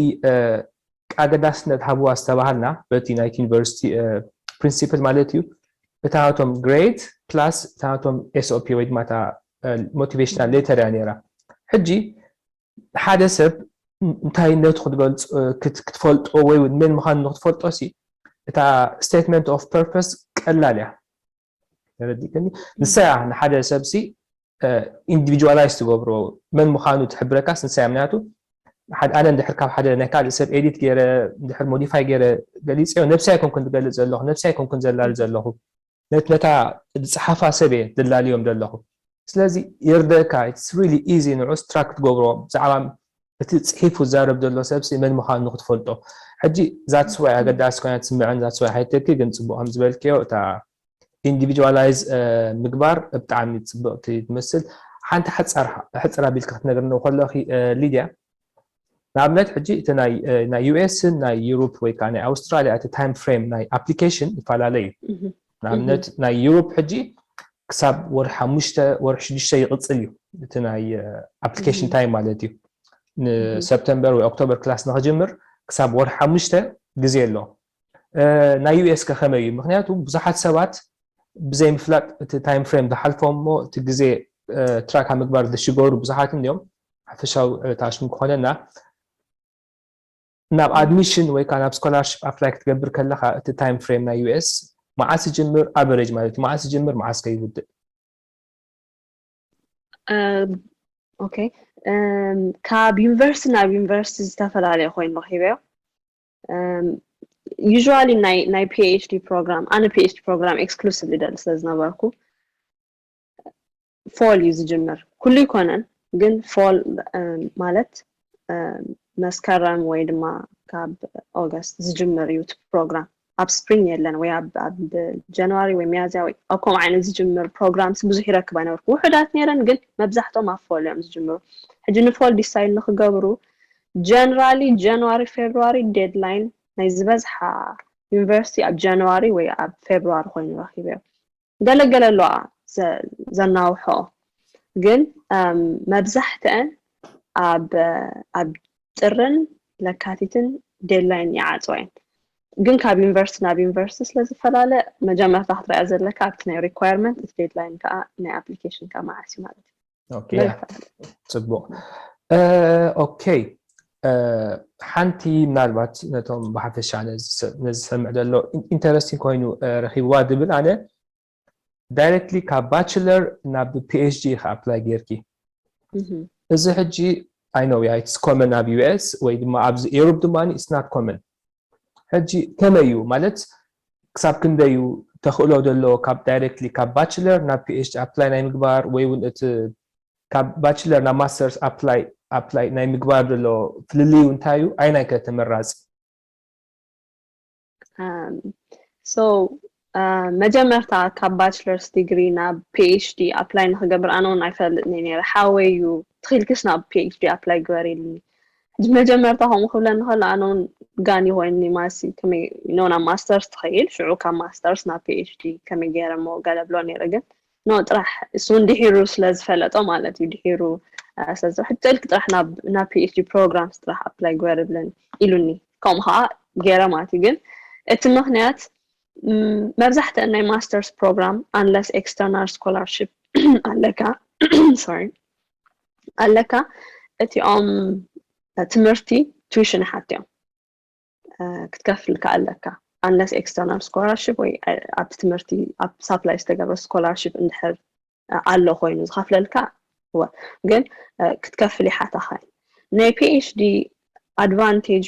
ኣገዳስነት ሃብዋ ዝተባሃልና በቲ ናይቲ ዩኒቨርሲቲ ፕሪንሲፕል ማለት እዩ እታ ናቶም ግሬድ ፕላስ እታ ናቶም ኤስኦፒ ወይ ድማ እታ ሞቲቬሽናል ሌተር እያ ነይራ ሕጂ ሓደ ሰብ እንታይነቱ ክትገልፅ ክትፈልጦ ወይ እውን መን ምዃኑ ንክትፈልጦ ሲ እታ ስቴትመንት ኦፍ ፐርፐስ ቀላል እያ ተረዲእክኒ ንሳ እያ ንሓደ ሰብሲ ኢንዲቪጁዋላይዝ ትገብሮ መን ምዃኑ ትሕብረካስ ንሳ እያ ምክንያቱ ኣነ እንድሕር ካብ ሓደ ናይ ካልእ ሰብ ኤዲት ገይረ እንድሕር ሞዲፋይ ገይረ ገሊፀዮ ነብሰይ ኣይኮንኩን ዝገልፅ ዘለኹ ነብሰይ ኣይኮንኩን ዘላሊ ዘለኹ ነታ ዝፀሓፋ ሰብ እየ ዘላልዮም ዘለኹ ስለዚ ይርደካ ኢትስ ሪሊ ኢዚ ንዑስ ትራክ ክትገብሮ ብዛዕባ እቲ ጽሒፉ ዝዛረብ ዘሎ ሰብሲ መን ምዃኑ ንክትፈልጦ ሕጂ ዛትስ ዋይ ኣገዳሲ ኮይና ትስምዐን ዛትስ ዋይ ሃይተኪ ግን ጽቡቕ ከም ዝበልክዮ እታ ኢንዲቪጁዋላይዝ ምግባር ብጣዕሚ ጽብቕቲ ትመስል ሓንቲ ሓጻር ሕጽር ኣቢልኪ ክትነግርኒ ከለኺ ሊድያ ንኣብነት ሕጂ እቲ ናይ ዩኤስን ናይ ዩሮፕ ወይ ከዓ ናይ ኣውስትራልያ እቲ ታይም ፍሬም ናይ ኣፕሊኬሽን ይፈላለ እዩ ንኣብነት ናይ ዩሮፕ ሕጂ ክሳብ ወር ሓሙሽተ ወር ሽዱሽተ ይቕፅል እዩ እቲ ናይ ኣፕሊኬሽን ታይም ማለት እዩ ንሰፕተምበር ወይ ኦክቶበር ክላስ ንክጅምር ክሳብ ወር ሓሙሽተ ግዜ ኣሎ ናይ US ከ ከመይ እዩ ምክንያቱ ብዙሓት ሰባት ብዘይ ምፍላጥ እቲ ታይም ፍሬም ዝሓልፎም እሞ እቲ ግዜ ትራክ ኣብ ምግባር ዝሽገሩ ብዙሓት እንዲዮም ሓፈሻዊ ታሽሙ ክኾነና ናብ ኣድሚሽን ወይ ከዓ ናብ ስኮላርሽፕ ኣፕላይ ክትገብር ከለካ እቲ ታይም ፍሬም ናይ US መዓስ ይጅምር ኣቨሬጅ ማለት እዩ መዓስ ይጅምር መዓስ ከይውድእ ኦኬ ካብ ዩኒቨርሲቲ ናብ ዩኒቨርሲቲ ዝተፈላለየ ኮይኑ ረኪበዮ ዩዥዋሊ ናይ ፒኤችዲ ፕሮግራም ኣነ ፒኤችዲ ፕሮግራም ኤክስክሉሲቭሊ ደሊ ስለ ዝነበርኩ ፎል እዩ ዝጅምር ኩሉ ይኮነን ግን ፎል ማለት መስከረም ወይ ድማ ካብ ኦገስት ዝጅምር እዩ እቲ ፕሮግራም ኣብ ስፕሪንግ የለን ወይ ኣብ ጃንዋሪ ወይ ሚያዝያ ወይ ኣብ ከምኡ ዓይነት ዝጅምር ፕሮግራምስ ብዙሕ ይረክብ ኣይነበርኩ ውሑዳት ነይረን ግን መብዛሕቶም ኣብ ፎል እዮም ዝጅምሩ ሕጂ ንፎል ዲሳይድ ንክገብሩ ጀነራሊ ጃንዋሪ ፌብርዋሪ ዴድላይን ናይ ዝበዝሓ ዩኒቨርሲቲ ኣብ ጃንዋሪ ወይ ኣብ ፌብርዋሪ ኮይኑ ረኺበዮ ገለ ገለ ኣለዋ ዘናውሐኦ ግን መብዛሕትአን ኣብ ኣብ ጥርን ለካቲትን ዴድላይን ይዓፅዋ እየን ግን ካብ ዩኒቨርሲቲ ናብ ዩኒቨርሲቲ ስለ ዝፈላለ መጀመርታ ክትሪኣ ዘለካ ኣብቲ ናይ ሪኳየርመንት እቲ ዴድላይን ከዓ ናይ ኣፕሊኬሽንካ መዓስ እዩ ማለት እዩ ፅቡቅ ኦኬ ሓንቲ ምናልባት ነቶም ብሓፈሻ ነዝሰምዕ ዘሎ ኢንተረስቲን ኮይኑ ረኪብዋ ዝብል ኣነ ዳይረክትሊ ካብ ባችለር ናብ ፒኤችዲ ኢካ ኣፕላይ ጌርኪ እዚ ሕጂ ኣይነው ያ ኢትስ ኮመን ኣብ ዩኤስ ወይ ድማ ኣብዚ ኤሮፕ ድማ ኢትስ ናት ኮመን ሕጂ ከመይ እዩ ማለት ክሳብ ክንደይ እዩ ተኽእሎ ዘሎ ካብ ዳይረክትሊ ካብ ባችለር ናብ ፒኤችዲ ኣፕላይ ናይ ምግባር ወይ እውን እቲ ካብ ባችለር ናብ ማስተርስ ኣፕላይ ኣፕላይ ናይ ምግባር ዘሎ ፍልልዩ እንታይ እዩ ኣይናይ ከ ተመራፂ ሶ መጀመርታ ካብ ባችለርስ ዲግሪ ናብ ፒኤችዲ ኣፕላይ ንክገብር ኣነ እውን ኣይፈልጥኒ ነይረ ሓወይ እዩ ትኽኢልክሽ ናብ ፒኤችዲ ኣፕላይ ግበር ኢልኒ ሕጂ መጀመርታ ከምኡ ክብለኒ ከሎ ኣነ እውን ጋኒ ኮይንኒ ማሲ ከመይ ኖ ናብ ማስተርስ ትኸይድ ሽዑ ካብ ማስተርስ ናብ ፒኤችዲ ከመይ ገይረ እሞ ገለ ብሎ ነይረ ግን ኖ ጥራሕ እሱ እውን ድሒሩ ስለ ዝፈለጦ ማለት እዩ ድሒሩ ስለዚ ሕጂ ኢልክ ጥራሕ ናብ ፒኤችዲ ፕሮግራምስ ጥራሕ ኣፕላይ ግበር ብለን ኢሉኒ ከምኡ ከዓ ገይረ ማለት እዩ ግን እቲ ምክንያት መብዛሕትኣን ናይ ማስተርስ ፕሮግራም ኣንለስ ኤክስተርናል ስኮላርሽፕ ኣለካ ሶሪ ኣለካ እቲኦም ትምህርቲ ቱዊሽን ሓት እዮም ክትከፍል ከዓ ኣለካ ኣንለስ ኤክስተርናል ስኮላርሽፕ ወይ ኣብቲ ትምህርቲ ኣብ ሳፕላይ ዝተገብረ ስኮላርሽፕ እንድሕር ኣሎ ኮይኑ ዝኸፍለልካ እወ ግን ክትከፍል ይሓታኻ ናይ ፒኤችዲ ኣድቫንቴጁ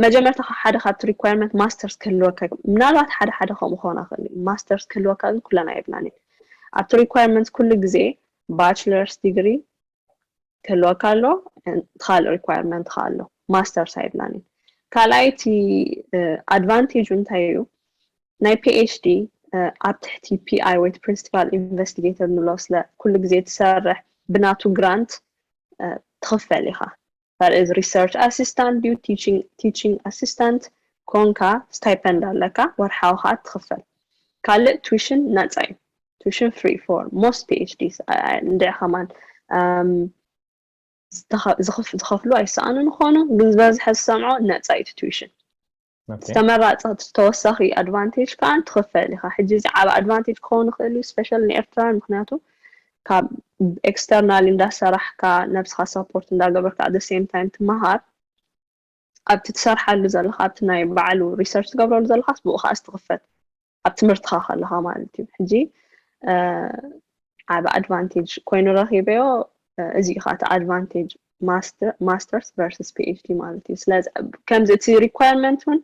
መጀመርታ ካብ ሓደ ካብቲ ሪኳርመንት ማስተርስ ክህልወካ ምናልባት ሓደ ሓደ ከምኡ ክኾን ይኽእል እዩ ማስተርስ ክህልወካ ግን ኩለን ኣይብላን እየን ኣብቲ ሪኳርመንት ኩሉ ግዜ ባችለርስ ዲግሪ ክህልወካ ኣሎ ካልእ ሪኳርመንት ከዓ ኣሎ ማስተር ሳይድ ላኒን ካልኣይ እቲ ኣድቫንቴጁ እንታይ እዩ ናይ ፒኤችዲ ኣብ ትሕቲ ፒኣይ ወይ ፕሪንስቲፓል ኢንቨስቲጌተር ንብሎ ስለ ኩሉ ግዜ ትሰርሕ ብናቱ ግራንት ትኽፈል ኢኻ that is research assistant ድዩ teaching teaching assistant ኮንካ ስታይፐንድ ኣለካ ወርሓዊ ከዓ ትኽፈል ካልእ ቱሽን ነፃ እዩ ቱሽን ፍሪ ፎር ሞስት ፒኤችዲስ እንድዕ ከማን ዝኸፍሉ ኣይሰኣኑን ይኾኑ ግን ዝበዝሐ ዝሰምዖ ነፃ እዩ ቱሽን ዝተመራጸ ተወሳኺ ኣድቫንቴጅ ከኣ ትኽፈል ኢኻ ሕጂ እዚ ዓብ ኣድቫንቴጅ ክኸውን ይኽእል እዩ ስፔሻል ንኤርትራን ምክንያቱ ካብ ኤክስተርናል እንዳሰራሕካ ነብስኻ ሰፖርት እንዳገበርካ ኣደ ሴም ታይም ትመሃር ኣብቲ ትሰርሓሉ ዘለኻ ኣብቲ ናይ ባዕሉ ሪሰርች ትገብረሉ ዘለኻስ ብኡ ከኣ ዝትኽፈት ኣብ ትምህርትኻ ከለኻ ማለት እዩ ሕጂ ዓብ ኣድቫንቴጅ ኮይኑ ረኺበዮ እዚ እዩ ከዓ እቲ ኣድቫንቴጅ ማስተርስ ቨርስስ ፒኤችዲ ማለት እዩ ስለዚ ከምዚ እቲ ሪኳርመንት እውን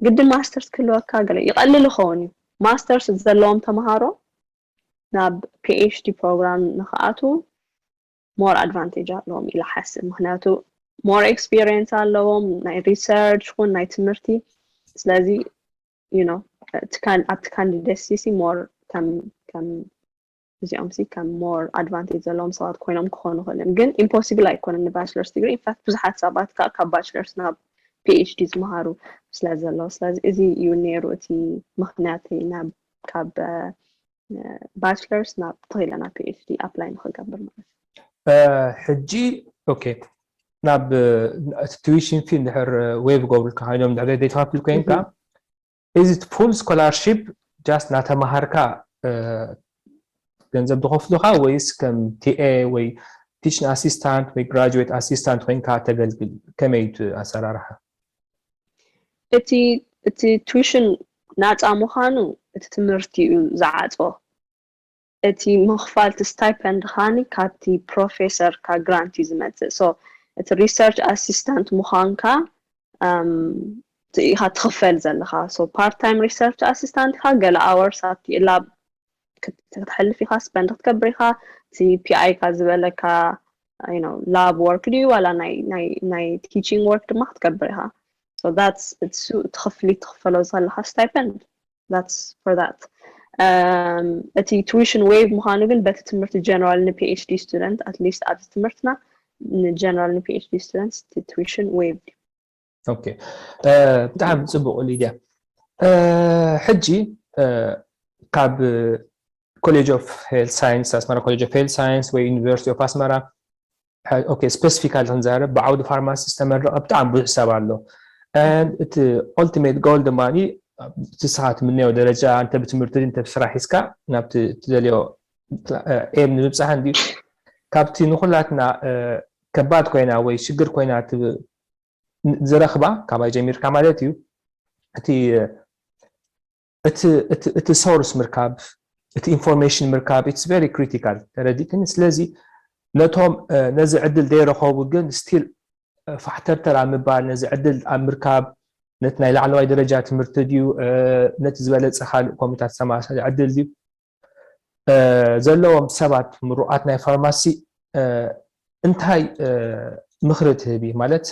ግድን ማስተርስ ክህልወካ ገለ ይቐልል ይኸውን እዩ ማስተርስ ዘለዎም ተምሃሮ ናብ ፒኤችዲ ፕሮግራም ንክኣቱ ሞር ኣድቫንቴጅ ኣለዎም ኢላ ሓስብ ምክንያቱ ሞር ኤክስፒሪየንስ ኣለዎም ናይ ሪሰርች ኹን ናይ ትምህርቲ ስለዚ you know ትካል ኣብ ትካል ደሲ ሲ ሞር ከም ከም እዚኦም ሲ ከም ሞር ኣድቫንቴጅ ዘለዎም ሰባት ኮይኖም ክኾኑ ክእልም ግን ኢምፖሲብል ኣይኮነን ንባችለርስ ዲግሪ ኢንፋክት ብዙሓት ሰባት ከዓ ካብ ባችለርስ ናብ ፒኤችዲ ዝመሃሩ ስለ ዘለዉ ስለዚ እዚ እዩ ነይሩ እቲ ምክንያት ናብ ካብ ባችለርስ ናብ ተኺለ ናብ ፒኤችዲ ኣፕላይ ንክገብር ማለት ሕጂ ኦኬ ናብ እቲ ቱዊሽን ፊ ድሕር ወይ ብገብሩልካ ኮይኖም ድሕር ዘይተኸፍል ኮይንካ እዚ ፉል ስኮላርሽፕ ጃስት ናተማሃርካ ገንዘብ ዝኸፍሉኻ ወይስ ከም ቲኤ ወይ ቲችን ኣሲስታንት ወይ ግራጁዌት ኣሲስታንት ኮይንካ ተገልግል ከመይ እቲ ኣሰራርሓ እቲ እቲ ቱሽን ናጻ ምዃኑ እቲ ትምህርቲ እዩ ዝዓጾ እቲ ምኽፋል እቲ ስታይፐንድ ኻኒ ካብቲ ፕሮፌሰርካ ግራንት እዩ ዝመጽእ ሶ እቲ ሪሰርች ኣሲስታንት ምዃንካ ኢኻ ትኽፈል ዘለኻ ሶ ፓርት ታይም ሪሰርች ኣሲስታንት ኢኻ ገለ ኣወርስ ኣብቲ ላብ ክትሕልፍ ኢኻ ስፐንድ ክትገብር ኢኻ እቲ ፒኣይካ ዝበለካ ላብ ወርክ ድዩ ዋላ ናይ ቲቺንግ ወርክ ድማ ክትገብር ኢኻ ሶ ዳትስ እሱ እቲ ክፍሊት ትኽፈሎ ዘለኻ ስታይፐንድ ዳትስ ፎር ዳት እቲ ቱዊሽን ዌቭ ምዃኑ ግን በቲ ትምህርቲ ጀነራል ንፒኤችዲ ስቱደንት ኣትሊስት ኣብዚ ትምህርትና ንጀነራል ንፒኤችዲ ስቱደንት ቱዊሽን ዌቭ ኦኬ ብጣዕሚ ፅቡቅ ሊድያ ሕጂ ካብ ኮሌጅ ኦፍ ሄልት ሳይንስ ኣስመራ ኮሌጅ ኦፍ ሄልት ሳይንስ ወይ ዩኒቨርሲቲ ኦፍ ኣስመራ ኦኬ ስፔሲፊካሊ ክንዛረብ ብዓውዲ ፋርማሲ ዝተመረቐ ብጣዕሚ ብዙሕ ሰብ ኣሎ እቲ ኦልቲሜት ጎል ድማ ንስኻ ትምነዮ ደረጃ እንተ ብትምህርቲ እንተ ብስራሕ ሒዝካ ናብቲ ትደልዮ ኤም ንምብፃሕ እንዲ ካብቲ ንኩላትና ከባድ ኮይና ወይ ሽግር ኮይና ዝረክባ ካባይ ጀሚርካ ማለት እዩ እቲ እቲ እቲ እቲ ሶርስ ምርካብ እቲ ኢንፎርሜሽን ምርካብ ኢትስ ቨሪ ክሪቲካል ተረዲእክኒ ስለዚ ነቶም ነዚ ዕድል ዘይረኸቡ ግን ስቲል ፋሕተርተር ኣብ ምባል ነዚ ዕድል ኣብ ምርካብ ነቲ ናይ ላዕለዋይ ደረጃ ትምህርቲ ድዩ ነቲ ዝበለፀ ካልእ ኮሚታት ዝተመሳሰለ ዕድል ድዩ ዘለዎም ሰባት ምሩቓት ናይ ፋርማሲ እንታይ ምኽሪ ትህቢ ማለት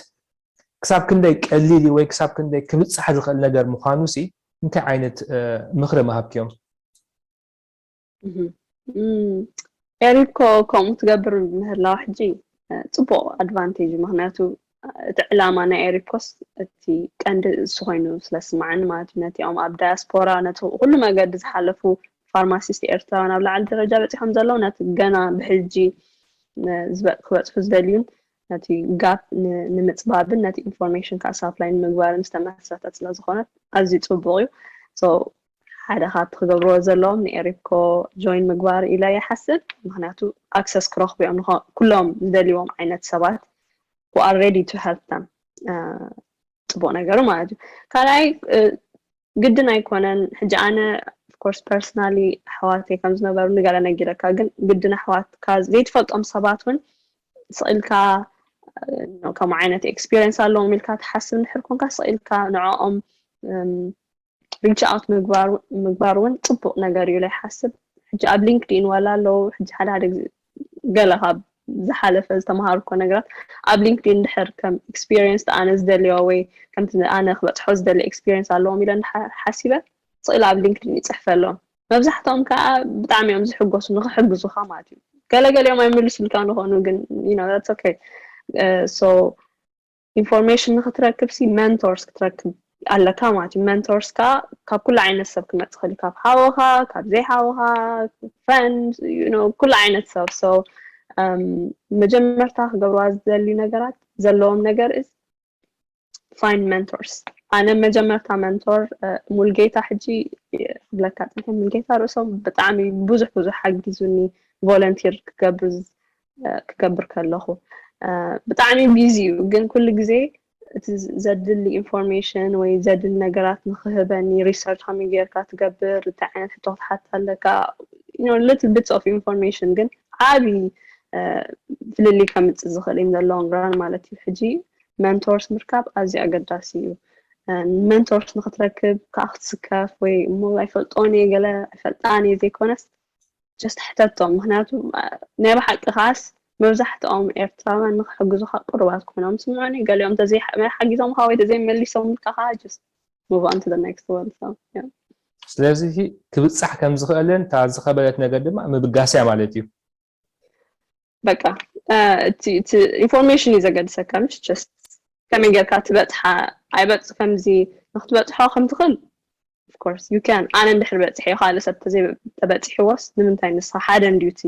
ክሳብ ክንደይ ቀሊል እዩ ወይ ክሳብ ክንደይ ክብፃሕ ዝኽእል ነገር ምዃኑ ሲ እንታይ ዓይነት ምኽሪ ምሃብክዮም ኤሪኮ ከምኡ ትገብር ምህላዋ ሕጂ ፅቡቅ ኣድቫንቴጅ ምክንያቱ እቲ ዕላማ ናይ ኤሪኮስ እቲ ቀንዲ እሱ ኮይኑ ስለ ዝስማዓኒ ማለት እዩ ነቲኦም ኣብ ዳያስፖራ ነቲ ኩሉ መገዲ ዝሓለፉ ፋርማሲስት ኤርትራውያን ኣብ ላዕሊ ደረጃ በፂሖም ዘለዉ ነቲ ገና ብሕጂ ክበፅሑ ዝደልዩን ነቲ ጋፕ ንምፅባብን ነቲ ኢንፎርሜሽን ከዓ ሳፕላይ ንምግባርን ዝተመስረተት ስለ ዝኾነት ኣዝዩ ፅቡቅ እዩ ሓደ ካብቲ ክገብርዎ ዘለዎም ንኤሪፕኮ ጆይን ምግባር ኢለ ይሓስብ ምክንያቱ ኣክሰስ ክረክቡ እዮም ኩሎም ዝደልዎም ዓይነት ሰባት who are ready to help them ፅቡቅ ነገሩ ማለት እዩ ካልኣይ ግድን ኣይኮነን ሕጂ ኣነ ኮርስ ፐርሰናሊ ኣሕዋተይ ከም ዝነበሩ ንገለ ነጊረካ ግን ግድን ኣሕዋትካ ዘይትፈልጦም ሰባት እውን ስኢልካ ከምኡ ዓይነት ኤክስፒሪንስ ኣለዎም ኢልካ ትሓስብ ንድሕር ኮንካ ስኢልካ ንዕኦም ሪች ኣውት ምግባር እውን ፅቡቅ ነገር እዩ ኢለ ይሓስብ ሕጂ ኣብ ሊንክድኢን ዋላ ኣለው ሕጂ ሓደ ሓደ ግዜ ገለ ካብ ዝሓለፈ ዝተምሃርኮ ነገራት ኣብ ሊንክድኢን ድሕር ከም ኤክስፒሪየንስ ኣነ ዝደልዮ ወይ ከምቲ ኣነ ክበፅሖ ዝደሊ ኤክስፒሪየንስ ኣለዎም ኢለ ሓሲበ ስእሊ ኣብ ሊንክድኢን ይፅሕፈ ኣለዎም መብዛሕትኦም ከዓ ብጣዕሚ እዮም ዝሕጎሱ ንክሕግዙካ ማለት እዩ ገለገሊኦም ኣይምልሱልካ ንኾኑ ግን ዩ ሶ ኢንፎርሜሽን ንክትረክብ ሲ መንቶርስ ክትረክብ ኣለካ ማለት እዩ መንቶርስ ከዓ ካብ ኩሉ ዓይነት ሰብ ክመፅእ ክእል ካብ ሓወኻ ካብ ዘይ ሓወኻ ፍረንድ ኩሉ ዓይነት ሰብ ሰው መጀመርታ ክገብርዋ ዝደልዩ ነገራት ዘለዎም ነገር እስ ፋይን መንቶርስ ኣነ መጀመርታ መንቶር ሙልጌታ ሕጂ ክብለካ ፅንሐ ሙልጌታ ርእሶም ብጣዕሚ ብዙሕ ብዙሕ ሓጊዙኒ ቮለንቲር ክገብር ክገብር ከለኹ ብጣዕሚ ቢዚ እዩ ግን ኩሉ ግዜ እቲ ዘድሊ ኢንፎርሜሽን ወይ ዘድሊ ነገራት ንክህበኒ ሪሰርች ከመይ ጌርካ ትገብር እንታይ ዓይነት ሕቶ ክትሓት ኣለካ ሊትል ቢትስ ኦፍ ኢንፎርሜሽን ግን ዓብዪ ፍልልይ ከምፅእ ዝኽእል ኢን ዘለዎም ራን ማለት እዩ ሕጂ መንቶርስ ምርካብ ኣዝዩ ኣገዳሲ እዩ መንቶርስ ንክትረክብ ከዓ ክትስከፍ ወይ እሞ ኣይፈልጦን እየ ገለ ኣይፈልጣን እየ ዘይኮነስ ጀስት ሕተቶም ምክንያቱ ናይ ብሓቂ ከዓስ መብዛሕትኦም ኤርትራውያን ንክሕግዙኻ ቅሩባት ኮይኖም ስምዑኒ ገሊኦም ተዘይ ሓጊዞምኻ ወይ ተዘይ መሊሶምልካ ከኣ ጀስት ሙቭ ኦን ቱ ዘ ኔክስት ወን ሶ ያ ስለዚ ክብጻሕ ከም ዝኽእልን እታ ዝኸበደት ነገር ድማ ምብጋስያ ማለት እዩ። በቃ እቲ ኢንፎርሜሽን እዩ ዘገድሰካ ምሽ ጀስት ከመይ ጌርካ ትበፅሓ ኣይበፅ ከምዚ ንክትበፅሖ ከም ትኽእል ኦፍኮርስ ዩ ካን ኣነ እንድሕር በፅሐዮ ካልእ ሰብ ተበፂሕዎስ ንምንታይ ንስኻ ሓደ እንድዩ እቲ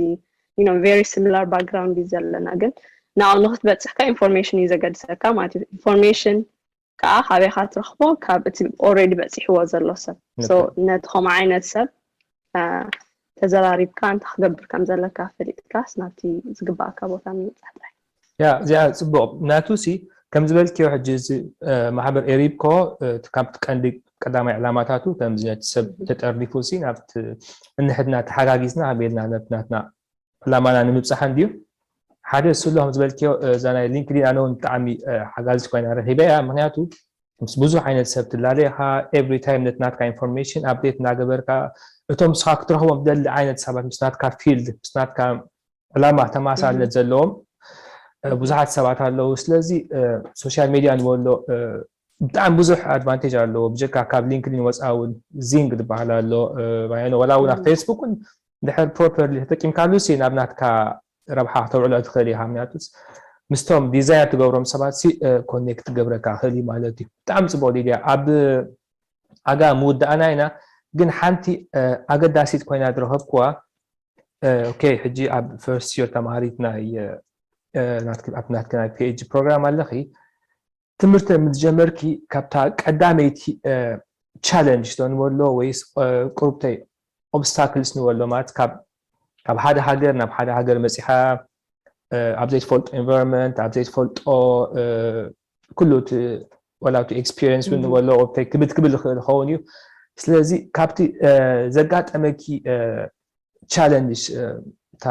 ዩ ቨሪ ሲሚላር ባክግራውንድ እዩ ዘለና ግን ናብኡ ንክትበፅሕካ ኢንፎርሜሽን እዩ ዘገድሰካ ማለት እዩ ኢንፎርሜሽን ካኣ ካበይ ኢካ ትረክቦ ካብ እቲ ኦሬዲ በጺሕዎ ዘሎ ሰብ ሶ ነቲ ከምኡ ዓይነት ሰብ ተዘራሪብካ እንታይ ክገብር ከም ዘለካ ፈሊጥካስ ናብቲ ዝግባኣካ ቦታ ምብጻሕ ጥራሕ ያ እዚኣ ጽቡቕ ናቱ ሲ ከም ዝበልክዮ ሕጂ እዚ ማሕበር ኤሪብኮ ካብቲ ቀንዲ ቀዳማይ ዕላማታቱ ከምዚ ነቲ ሰብ ተጠርኒፉ ሲ ናብቲ እንሕድና ተሓጋጊዝና ኣበልና ነብናትና ዕላማና ንምብጻሕ እንድዩ ሓደ እሱ ኣሎ ከም ዝበልክዮ እዛ ናይ ሊንክዲን ኣነ እውን ብጣዕሚ ሓጋዚት ኮይና ረኺበ እያ ምክንያቱ ምስ ብዙሕ ዓይነት ሰብ ትላለ ኢኻ ኤቭሪ ታይም ነቲ ናትካ ኢንፎርሜሽን ኣብዴት እናገበርካ እቶም ንስኻ ክትረኽቦም ትደሊ ዓይነት ሰባት ምስ ናትካ ፊልድ ምስ ናትካ ዕላማ ተመሳሳልነት ዘለዎም ብዙሓት ሰባት ኣለዉ ስለዚ ሶሻል ሚድያ ንበሎ ብጣዕሚ ብዙሕ ኣድቫንቴጅ ኣለዎ ብጀካ ካብ ሊንክድን ወፃኢ እውን ዚንግ ዝበሃል ኣሎ ዋላ እውን ኣብ ፌስቡክ እውን ድሕር ፕሮፐርሊ ተጠቂምካሉ ሲ ናብ ናትካ ረብሓ ክተውዕሎ ትኽእል ኢኻ ምክንያቱ ምስቶም ዲዛይር ትገብሮም ሰባት ሲ ኮኔክት ትገብረካ ክእል እዩ ማለት እዩ ብጣዕሚ ፅቡቅ ሊድያ ኣብ ኣጋ ምውዳእና ኢና ግን ሓንቲ ኣገዳሲት ኮይና ዝረኸብኩዋ ኦኬ ሕጂ ኣብ ፈርስት ዮር ተምሃሪት ናይ ናትኪ ናይ ፒኤጂ ፕሮግራም ኣለኺ ትምህርቲ ምስ ጀመርኪ ካብታ ቀዳመይቲ ቻለንጅ ዶ ንበሎ ወይስ ቁርብተይ ኦብስታክልስ ንበሎ ማለት ካብ ካብ ሓደ ሃገር ናብ ሓደ ሃገር መጺኻ ኣብ ዘይትፈልጦ ኤንቫይሮንመንት ኣብ ዘይትፈልጦ ኩሉ እቲ ወላ እቲ ኤክስፒሪየንስ እውን ንበሎ ቁርብተይ ክብድ ክብል ዝኽእል ይኸውን እዩ ስለዚ ካብቲ ዘጋጠመኪ ቻለንጅ እታ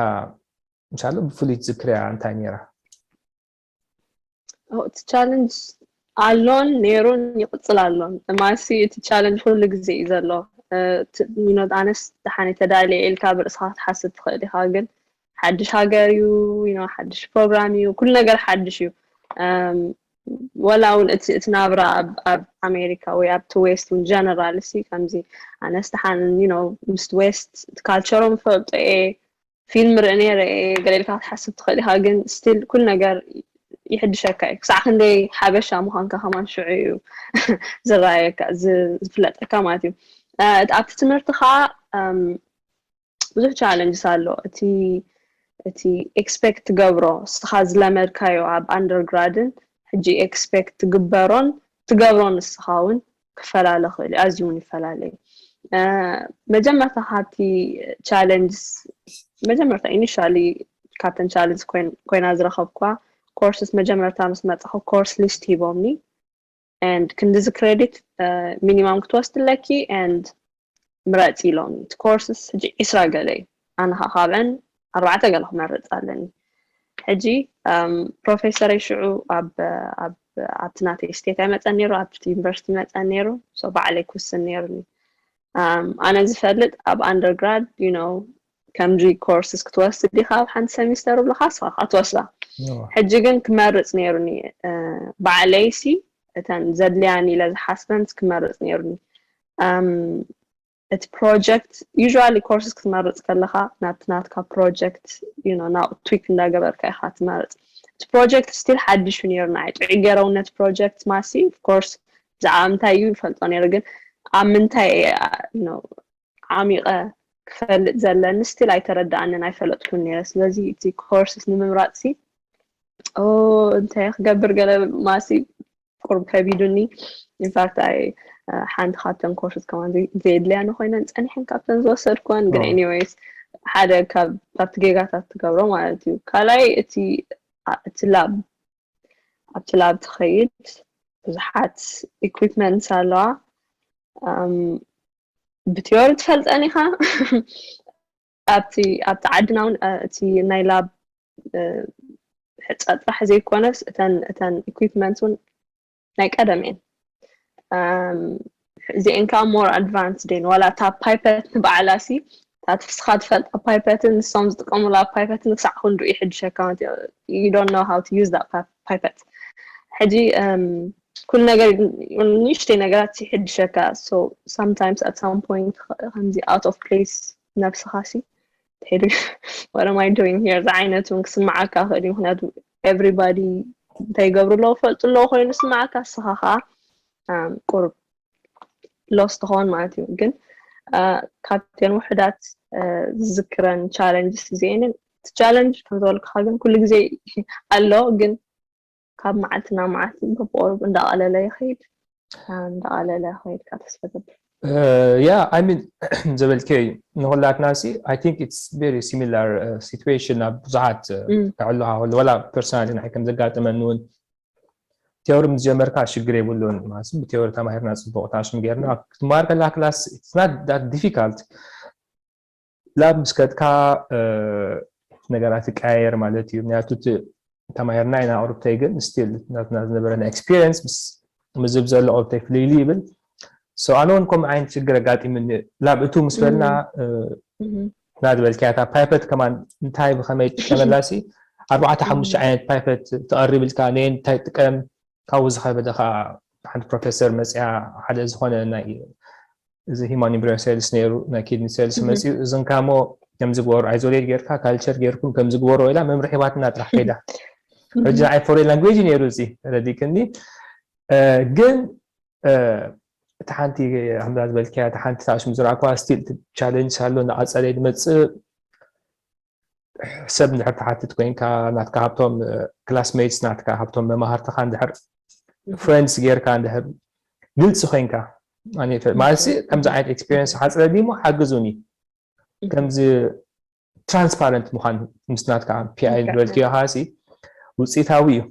እንሻ ብፍሉይ ትዝክርያ እንታይ ነይራ እቲ ቻለንጅ ኣሎን ነይሩን ይቕፅል ኣሎን ማሲ እቲ ቻለንጅ ኩሉ ግዜ እዩ ዘሎ ኖት ኣነስ ደሓነ ተዳልየ ኢልካ ብርእስኻ ክትሓስብ ትኽእል ኢኻ ግን ሓድሽ ሃገር እዩ ሓድሽ ፕሮግራም እዩ ኩሉ ነገር ሓድሽ እዩ ወላ እውን እቲ እቲ ናብራ ኣብ ኣሜሪካ ወይ ኣብቲ ዌስት ን ጀነራል ሲ ከምዚ ኣነስ ደሓን ምስ ዌስት ካልቸሮም ፈልጦ እየ ፊልም ርኢ ነይረ እየ ገለ ኢልካ ክትሓስብ ትኽእል ኢኻ ግን ስቲል ኩሉ ነገር ይሕድሸካ እዩ ክሳዕ ክንደይ ሓበሻ ምዃንካ ከማን ሽዑ እዩ ዝረኣየካ ዝፍለጠካ ማለት እዩ እቲ ኣብቲ ትምህርቲ ከዓ ብዙሕ ቻለንጅስ ኣሎ እቲ እቲ ኤክስፔክት ትገብሮ ንስኻ ዝለመድካዮ ኣብ ኣንደርግራድን ሕጂ ኤክስፔክት ትግበሮን ትገብሮ ንስኻ እውን ክፈላለ ክእል ኣዝዩ እውን ይፈላለ እዩ መጀመርታ ካብቲ ቻለንጅስ መጀመርታ ኢኒሻሊ ካብተን ቻለንጅ ኮይና ዝረኸብኳ ኮርስስ መጀመርታ ምስ መፅኹ ኮርስ ሊስት ሂቦምኒ ንድ ክንዲዚ ክሬዲት ሚኒማም ክትወስድ ኣለኪ ንድ ምረጺ ኢሎምኒ እቲ ኮርስስ ሕጂ ዒስራ ገለ እዩ ኣነ ከኣ ካብዐን ኣርባዕተ ገለ ክመርጽ ኣለኒ ሕጂ ፕሮፌሰረይ ሽዑ ኣብ ኣብ ኣብቲ ናተይ ስቴት ኣይመጸን ነይሩ ኣብቲ ዩኒቨርሲቲ መጸን ነይሩ ሶ ባዕለይ ክውስን ነይሩኒ ኣነ ዝፈልጥ ኣብ ኣንደርግራድ ዩ ኖ ከምዚ ኮርስስ ክትወስድ ዲኻ ኣብ ሓንቲ ሰሚስተር ብልካ ስኻ ከዓ ትወስዳ ሕጂ ግን ክመርፅ ነይሩኒ ባዕለይሲ እተን ዘድልያኒ ኢለ ዝሓስበንስ ክመርፅ ነይሩኒ እቲ ፕሮጀክት ዩዥዋሊ ኮርስስ ክትመርፅ ከለኻ ናብቲ ናትካ ፕሮጀክት ና ትዊክ እንዳገበርካ ኢኻ ትመርፅ እቲ ፕሮጀክት ስቲል ሓድሽ እዩ ነይሩ ንዓይ ጥዑይ ገይሮም ነቲ ፕሮጀክት ማሲ ኮርስ ብዛዕባ ምንታይ እዩ ይፈልጦ ነይሩ ግን ኣብ ምንታይ ዓሚቐ ክፈልጥ ዘለኒ ስቲል ኣይተረዳኣንን ኣይፈለጥኩን ነይረ ስለዚ እቲ ኮርስስ ንምምራፅ ሲ እንተ ክገብር ገለ ማሲ ቁሩብ ከቢዱኒ ኢንፋክት ኣይ ሓንቲ ካብተን ኮርስ ከማን ዘየድልያ ንኮይነን ፀኒሐን ካብተን ዝወሰድኩወን ግን ኤኒዌይስ ሓደ ካብቲ ጌጋታት ትገብሮ ማለት እዩ ካልኣይ እቲ እቲ ላብ ኣብቲ ላብ ትኸይድ ብዙሓት ኢኩፕመንት ኣለዋ ብትዮሪ ትፈልጠን ኢኻ ኣብቲ ኣብቲ ዓድና እውን እቲ ናይ ላብ ሕፃ ጥራሕ ዘይኮነስ እተን እተን ኢኩፕመንት እውን ናይ ቀደም እየን እዚአን ከዓ ሞር ኣድቫንስ ደን ዋላ እታ ፓይፐት ንበዓላ ሲ እታ ትፍስኻ ትፈልጣ ፓይፐትን ንሶም ዝጥቀሙላ ፓይፐትን ክሳዕ ክንድኡ ይሕድሸካ ዩ ዶንት ኖ ሃው ቱ ዩዝ ዳት ፐርፈክት ሕጂ ኩሉ ነገር ንእሽተይ ነገራት ይሕድሸካ ሶ ሳምታይምስ ኣት ሳም ፖይንት ከምዚ ኣውት ኦፍ ፕሌስ ነብስኻ ሲ ትሕድ ዋት ኣም ኣይ ዶይንግ ሂር ዝዓይነቱ እውን ክስምዓካ ክእል እዩ ምክንያቱ ኤቭሪባዲ እንታይ ይገብሩ ኣለዎ ፈልጡ ኣለዎ ኮይኑ ስምዓካ ንስኻ ከዓ ቁርብ ሎስ ትኸውን ማለት እዩ ግን ካብተን ውሕዳት ዝዝክረን ቻለንጅስ እዚአንን እቲ ቻለንጅ ከም ዝበልኩኻ ግን ኩሉ ግዜ ኣሎ ግን ካብ መዓልቲ ናብ መዓልቲ በብቆሩብ እንዳቐለለ ይኸይድ እንዳቐለለ ይኸይድካ ተስፋ ገብር ያ ኣይ ሚን ዘበልከዮ እዩ ንኩላትና ሲ ኣይ ቲንክ ኢትስ ቨሪ ሲሚላር ሲትዌሽን ኣብ ብዙሓት ክዕሉካ ከሎ ወላ ፐርሶናሊ ንዓይ ከም ዘጋጠመኒ እውን ቴዎሪ ምስ ጀመርካ ሽግር የብሉን ማለት ብቴዎሪ ተማሂርና ፅቡቅ ታሽም ጌርና ክትመሃር ከለካ ክላስ ኢትስ ናት ዳት ዲፊካልት ላብ ምስ ከድካ ነገራት ይቀያየር ማለት እዩ ምክንያቱ እቲ ተማሂርና ኢና ቁርብተይ ግን ስቲል ናትና ዝነበረ ናይ ኤክስፒሪንስ ምስ ምዝብ ዘሎ ቁርብተይ ፍልይሊ ይብል ሰው ኣነ እውን ከምኡ ዓይነት ሽግር ኣጋጢምኒ ላብ እቱ ምስ በልና ና ዝበልክያ እታ ፓይፐት ከማን እንታይ ብከመይ ትጥቀመላ ሲ ኣርባዕተ ሓሙሽተ ዓይነት ፓይፐት ተቐሪብልካ ነየ እንታይ ጥቀም ካብኡ ዝኸበደ ከዓ ሓንቲ ፕሮፌሰር መፅያ ሓደ ዝኾነ ናይ እዚ ሂማን ኢምብሪዮን ሴልስ ነይሩ ናይ ኪድኒ ሴልስ መፅኡ እዝን ካሞ ከምዚ ግበሩ ኣይዞሌት ጌርካ ካልቸር ጌርኩም ከምዚ ግበሩ ኢላ መምርሒ ሂባትና ጥራሕ ከይዳ ሕጂ ናይ ፎሬን ላንጉጅ ነይሩ እዚ ረዲክኒ ግን እቲ ሓንቲ ኣምላ ዝበልክያ እቲ ሓንቲ ታሽም ዝረኣኳ ስቲል ቻለንጅ ኣሎ ንቐፀለ ድመፅእ ሰብ እንድሕር ትሓትት ኮይንካ ናትካ ሃብቶም ክላስሜትስ ናትካ ሃብቶም መማህርትኻ እንድሕር ፍሬንድስ ጌርካ እንድሕር ግልፂ ኮይንካ ማለት ከምዚ ዓይነት ኤክስፔሪንስ ሓፅረ ዲሞ ሓግዙኒ ከምዚ ትራንስፓረንት ምዃን ምስ ናትካ ፒኣይ ዝበልክዮ ሲ ውፅኢታዊ እዩ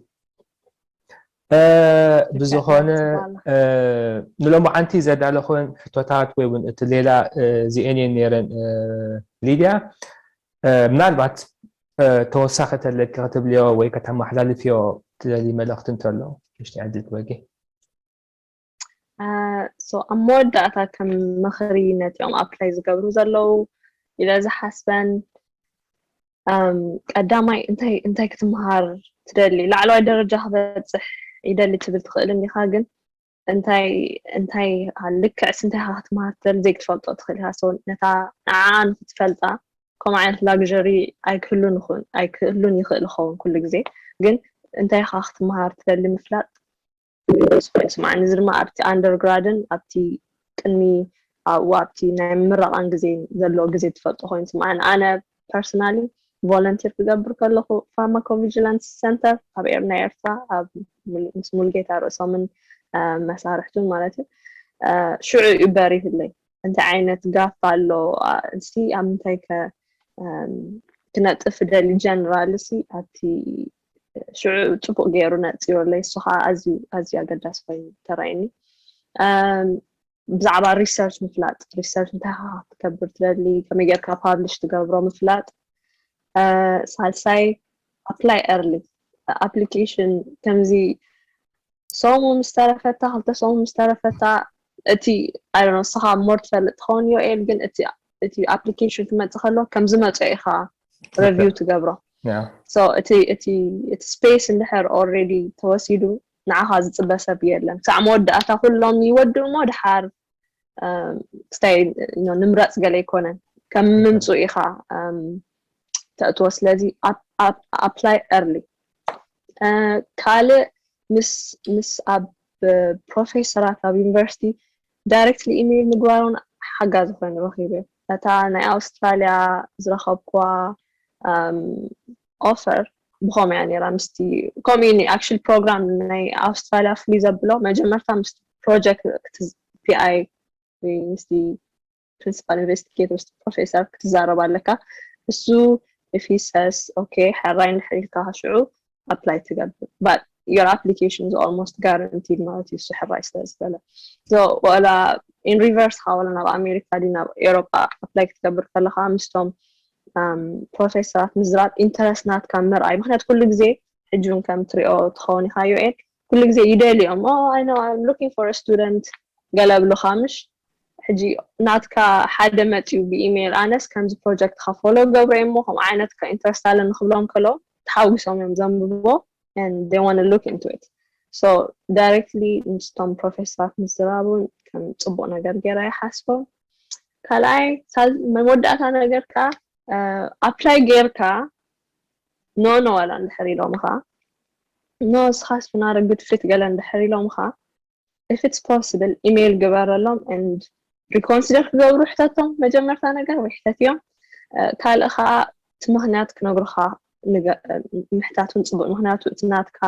ብዝኾነ ንሎማዓንቲ ዘዳለኹን ሕቶታት ወይ እውን እቲ ሌላ እዚኤን እየን ነይረን ሊድያ ምናልባት ተወሳኺ ተለኪ ክትብልዮ ወይ ከተመሓላልፍዮ ትደልይ መልእኽቲ እንተሎ ንሽቲ ዕድል ትበጊ ሶ ኣብ መወዳእታ ከም ምኽሪ ነቲኦም ኣፕላይ ዝገብሩ ዘለዉ ኢለ ዝሓስበን ቀዳማይ እንታይ እንታይ ክትምሃር ትደሊ ላዕለዋይ ደረጃ ክበፅሕ ይደሊ ትብል ትኽእል እንዲኻ ግን እንታይ እንታይ ልክዕስ እንታይ ካ ክትምሃር ትደሊ ዘይክትፈልጦ ትኽእል ኢኻ ሰው ነታ ንዓ ንክትፈልጣ ከምኡ ዓይነት ላግዠሪ ኣይክህሉን ይኹን ኣይክህሉን ይኽእል ይኸውን ኩሉ ግዜ ግን እንታይ ካ ክትምሃር ትደሊ ምፍላጥ ስቆይ ስማዓኒ እዚ ድማ ኣብቲ ኣንደር ግራድን ኣብቲ ቅድሚ ኣብኡ ኣብቲ ናይ ምረቓን ግዜ ዘሎ ግዜ ትፈልጦ ኮይኑ ስማዓኒ ኣነ ፐርሰናሊ ቮለንቲር ክገብር ከለኹ ፋርማኮቪጂላንስ ሰንተር ኣብ ኤር ናይ ኤርትራ ኣብ ምስ ሙልጌታ ርእሶምን መሳርሕቱን ማለት እዩ ሽዑ እዩ በሪህለይ እንታይ ዓይነት ጋፍ ኣሎ እስቲ ኣብ ምንታይ ከ ክነጥፍ ደሊ ጀነራል ሲ ኣብቲ ሽዑ ፅቡቅ ገይሩ ነፅዮለይ እሱ ከዓ ኣዝዩ ኣዝዩ ኣገዳሲ ኮይኑ ተራእዩኒ ብዛዕባ ሪሰርች ምፍላጥ ሪሰርች እንታይ ከዓ ክትከብር ትደሊ ከመይ ጌርካ ፓብሊሽ ትገብሮ ምፍላጥ ሳልሳይ ኣፕላይ ኤርሊ ኣፕሊኬሽን ከምዚ ሰሙ ምስ ተረፈታ ክልተ ሰሙ ምስ ተረፈታ እቲ ኣይ ንስኻ ሞር ትፈልጥ ትኸውን ዮኤል ግን እቲ እቲ ኣፕሊኬሽን ክመፅእ ከሎ ከም ዝመፀ ኢኻ ረቪው ትገብሮ እቲ ስፔስ እንድሕር ኦልሬዲ ተወሲዱ ንዓኻ ዝፅበ ሰብ የለን ክሳዕ መወዳእታ ኩሎም ይወድኡ እሞ ድሓር ክስታይ ንምረፅ ገለ ኣይኮነን ከም ምምፁ ኢኻ ተእትዎ ስለዚ ኣፕላይ ኤርሊ ካልእ ምስ ኣብ ፕሮፌሰራት ኣብ ዩኒቨርሲቲ ዳይረክትሊ ኢመይል ምግባር ውን ሓጋዚ ኮይኑ ረኺበዮ። እታ ናይ ኣውስትራልያ ዝረኸብኩዋ ኦፈር ብኸምኡ እያ ነይራ ምስቲ ከምኡ እዩ ኣክቹዋሊ ፕሮግራም ናይ ኣውስትራልያ ፍሉይ ዘብሎ መጀመርታ ምስቲ ፕሮጀክት ፒኣይ ወይ ምስቲ ፕሪንሲፓል ኢንቨስቲጌተር ምስ ፕሮፌሰር ክትዛረብ ኣለካ እሱ if he says okay ሕራይ እንድሕር ኢልካ ሽዑ apply ትገብር but your application is almost guaranteed ማለት እዩ እሱ ሕራይ ስለ ዝበለ so ወላ in reverse ካ ወላ ናብ ኣሜሪካ ዲ ናብ ኤሮጳ apply ክትገብር ከለካ ምስቶም um, ፕሮፌሰራት ምዝራብ ኢንተረስት ናትካ ምርኣይ ምክንያቱ ኩሉ ግዜ ሕጂ እውን ከም ትሪኦ ትኸውን ኢካ ዩኤል ኩሉ ግዜ ይደልዮም ኦ ኣይ ኖው ኣም ሉኪንግ ፎር ኣ ስቱደንት ገለ ኣብሉካ ምሽ ሕጂ ናትካ ሓደ መጽዩ ብኢሜይል ኣነስ ከምዚ ፕሮጀክትካ ፎሎ ገብረ እሞ ከምኡ ዓይነት ከ ኢንትረስት ኣለኒ ክብሎም ከለዉ ተሓጒሶም እዮም ዘንብብዎ and they want to look into it so directly ምስቶም ፕሮፌሰራት ምዝራቡ ከም ጽቡቅ ነገር ገይረ ይሓስቦ ካልኣይ መወዳእታ ነገር ከኣ ኣፕላይ ጌርካ ኖ ኖ ዋላ እንድሕር ኢሎምኻ ኖ እስኻስ ፍናረ ጉድ ፊት ገለ እንድሕር ኢሎምኻ if it's possible ኢሜይል ግበረሎም and ሪኮንሲደር ክገብሩ ሕተቶም መጀመርታ ነገር ወይ ሕተትዮም ካልእ ከዓ እቲ ምክንያት ክነግሩካ ምሕታቱን ፅቡቅ ምክንያቱ እቲ ናትካ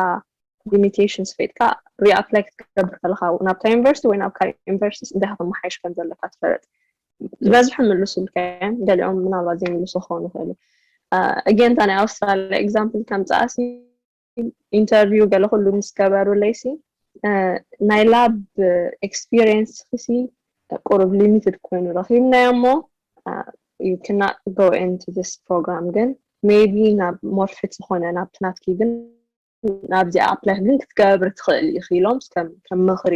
ሊሚቴሽንስ ፈጥካ ሪኣፕላይ ክትገብር ከለካ ናብታ ዩኒቨርሲቲ ወይ ናብ ካልእ ዩኒቨርሲቲ እንታይ ከመሓይሽ ከም ዘለካ ትፈለጥ ዝበዝሑ ምልሱልካ እዮም ገሊኦም ምናልባት ዘይምልሱ ክኾኑ ይኽእሉ እገንታ ናይ ኣውስትራልያ ኤግዛምፕል ከምፅኣሲ ኢንተርቪው ገለ ኩሉ ምስ ገበሩለይሲ ናይ ላብ ኤክስፒሪየንስ ክሲ ቁሩብ ሊሚትድ ኮይኑ ረኪብናዮ እሞ you cannot go into this program ግን maybe ናብ ሞር ፊት ዝኾነ ናብቲ ናትኪ ግን ናብዚኣ ኣፕላይ ግን ክትገብሪ ትኽእል ኢኺ ኢሎም ከም ምኽሪ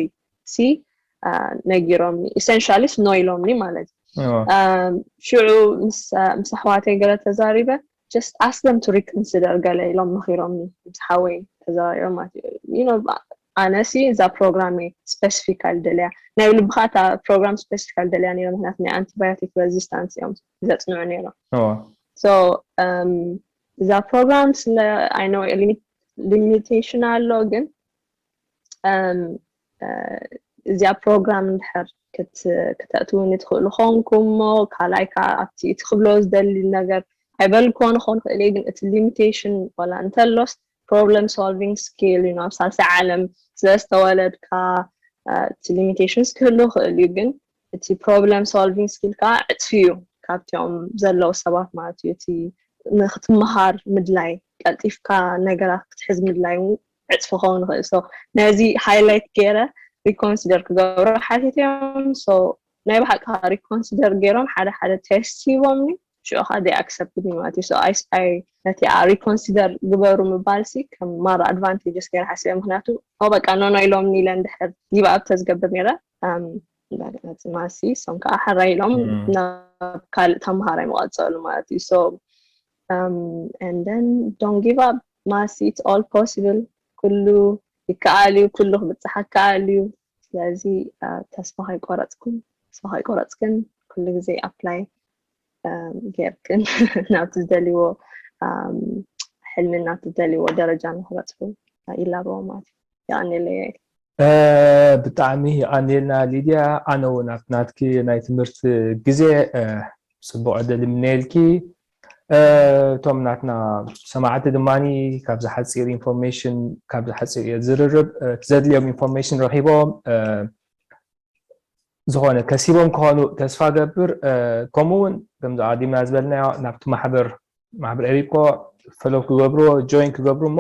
ሲ ነጊሮምኒ ኢሰንሻሊስ ኖ ኢሎምኒ ማለት እዩ ሽዑ ምስ ኣሕዋተይ ገለ ተዛሪበ ጀስት ኣስለም ቱ ሪክንስደር ገለ ኢሎም መኺሮምኒ ምስ ሓወይ ተዘራሪቦም ማለት እዩ ኣነሲ እዛ ፕሮግራም እየ ስፔሲፊካል ደልያ ናይ ልብካ እታ ፕሮግራም ስፔሲፊካል ደልያ ነይሮ ምክንያቱ ናይ ኣንቲባዮቲክ ረዚስታንስ እዮም ዘፅንዑ ነይሮም እዛ ፕሮግራም ስለ ኣይ ኖ ሊሚቴሽን ኣሎ ግን እዚኣ ፕሮግራም እንድሕር ክተእትውኒ ትኽእሉ ኾንኩም እሞ ካልኣይ ከዓ ኣብቲ እቲ ክብሎ ዝደሊ ነገር ኣይበልኮን ኾን ክእል ግን እቲ ሊሚቴሽን ዋላ እንተሎስ ፕሮብለም ሶልቪንግ ስኪል ዩ ናብ ሳልሳይ ዓለም ስለዝተወለድካ እቲ ሊሚቴሽንስ ክህሉ ክእል እዩ ግን እቲ ፕሮብለም ሶልቪንግ ስኪል ከዓ ዕፅፊ እዩ ካብቲኦም ዘለዉ ሰባት ማለት እዩ እቲ ንክትመሃር ምድላይ ቀልጢፍካ ነገራት ክትሕዝ ምድላይ እውን ዕፅፊ ክኸውን ይኽእል ሶ ነዚ ሃይላይት ገይረ ሪኮንሲደር ክገብሮ ሓቲተዮም ሶ ናይ ብሓቂ ሪኮንሲደር ገይሮም ሓደ ሓደ ቴስት ሂቦምኒ ሽዑ ከኣ they accepted me ማለት እዩ so I I ነቲኣ reconsider ግበሩ ምባልሲ ከም ማራ advantages ገይረ ሓሲበ ምክንያቱ ኦ በቃ no no ኢሎምኒ ኢለ እንድሕር give up ተዝገብር ነይረ um እንደገና ጽማሲ እሶም ከዓ ሕራይ ኢሎም Mm. ናብ ካልእ ተምሃራይ መቐጸሉ ማለት እዩ so um and then don't give up ማሲ it's all possible ኩሉ ይከኣል እዩ ኩሉ ክብጽሕ ይከኣል እዩ ስለዚ uh, ተስፋ ከይቆረጽኩም ተስፋ ከይቆረጽክን ኩሉ ግዜ ኣፕላይ ጌርክን ናብቲ ዝደልዎ ሕልሚ ናብቲ ዝደልዎ ደረጃ ንክበፅሑ ይላበዎ ማለት እዩ የቀኒለ ያኤል ብጣዕሚ የቀኒልና ሊድያ ኣነ እውን ኣብቲ ናትኪ ናይ ትምህርቲ ግዜ ፅቡቅ ዕድል ይምነየልኪ እቶም ናትና ሰማዕቲ ድማ ካብዚ ሓፂር ኢንፎርሜሽን ካብዚ ሓፂር ዝርርብ ዘድልዮም ኢንፎርሜሽን ረኪቦም ዝኾነ ከሲቦም ክኾኑ ተስፋ ገብር ከምኡ እውን ከምዚ ኣዲምና ዝበልናዮ ናብቲ ማሕበር ማሕበር ኤሪኮ ፈሎ ክገብርዎ ጆይን ክገብሩ እሞ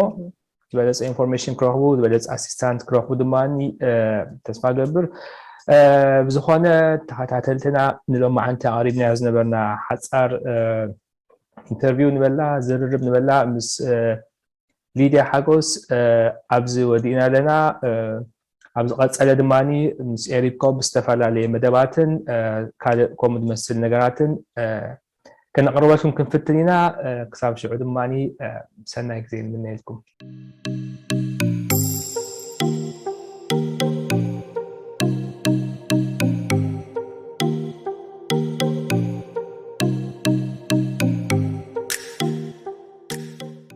ዝበለፀ ኢንፎርሜሽን ክረኽቡ ዝበለፀ ኣሲስታንት ክረኽቡ ድማ ተስፋ ገብር ብዝኾነ ተኸታተልትና ንሎማዓንቲ ኣቕሪብናዮ ዝነበርና ሓፃር ኢንተርቪው ንበላ ዝርርብ ንበላ ምስ ሊድያ ሓጎስ ኣብዚ ወዲእና ኣለና። ኣብ ዝቐጸለ ድማ ምስ ኤሪኮ ብዝተፈላለየ መደባትን ካልእ ከምኡ ዝመስል ነገራትን ከነቕርበልኩም ክንፍትን ኢና። ክሳብ ሽዑ ድማ ሰናይ ግዜ ንምነየልኩም።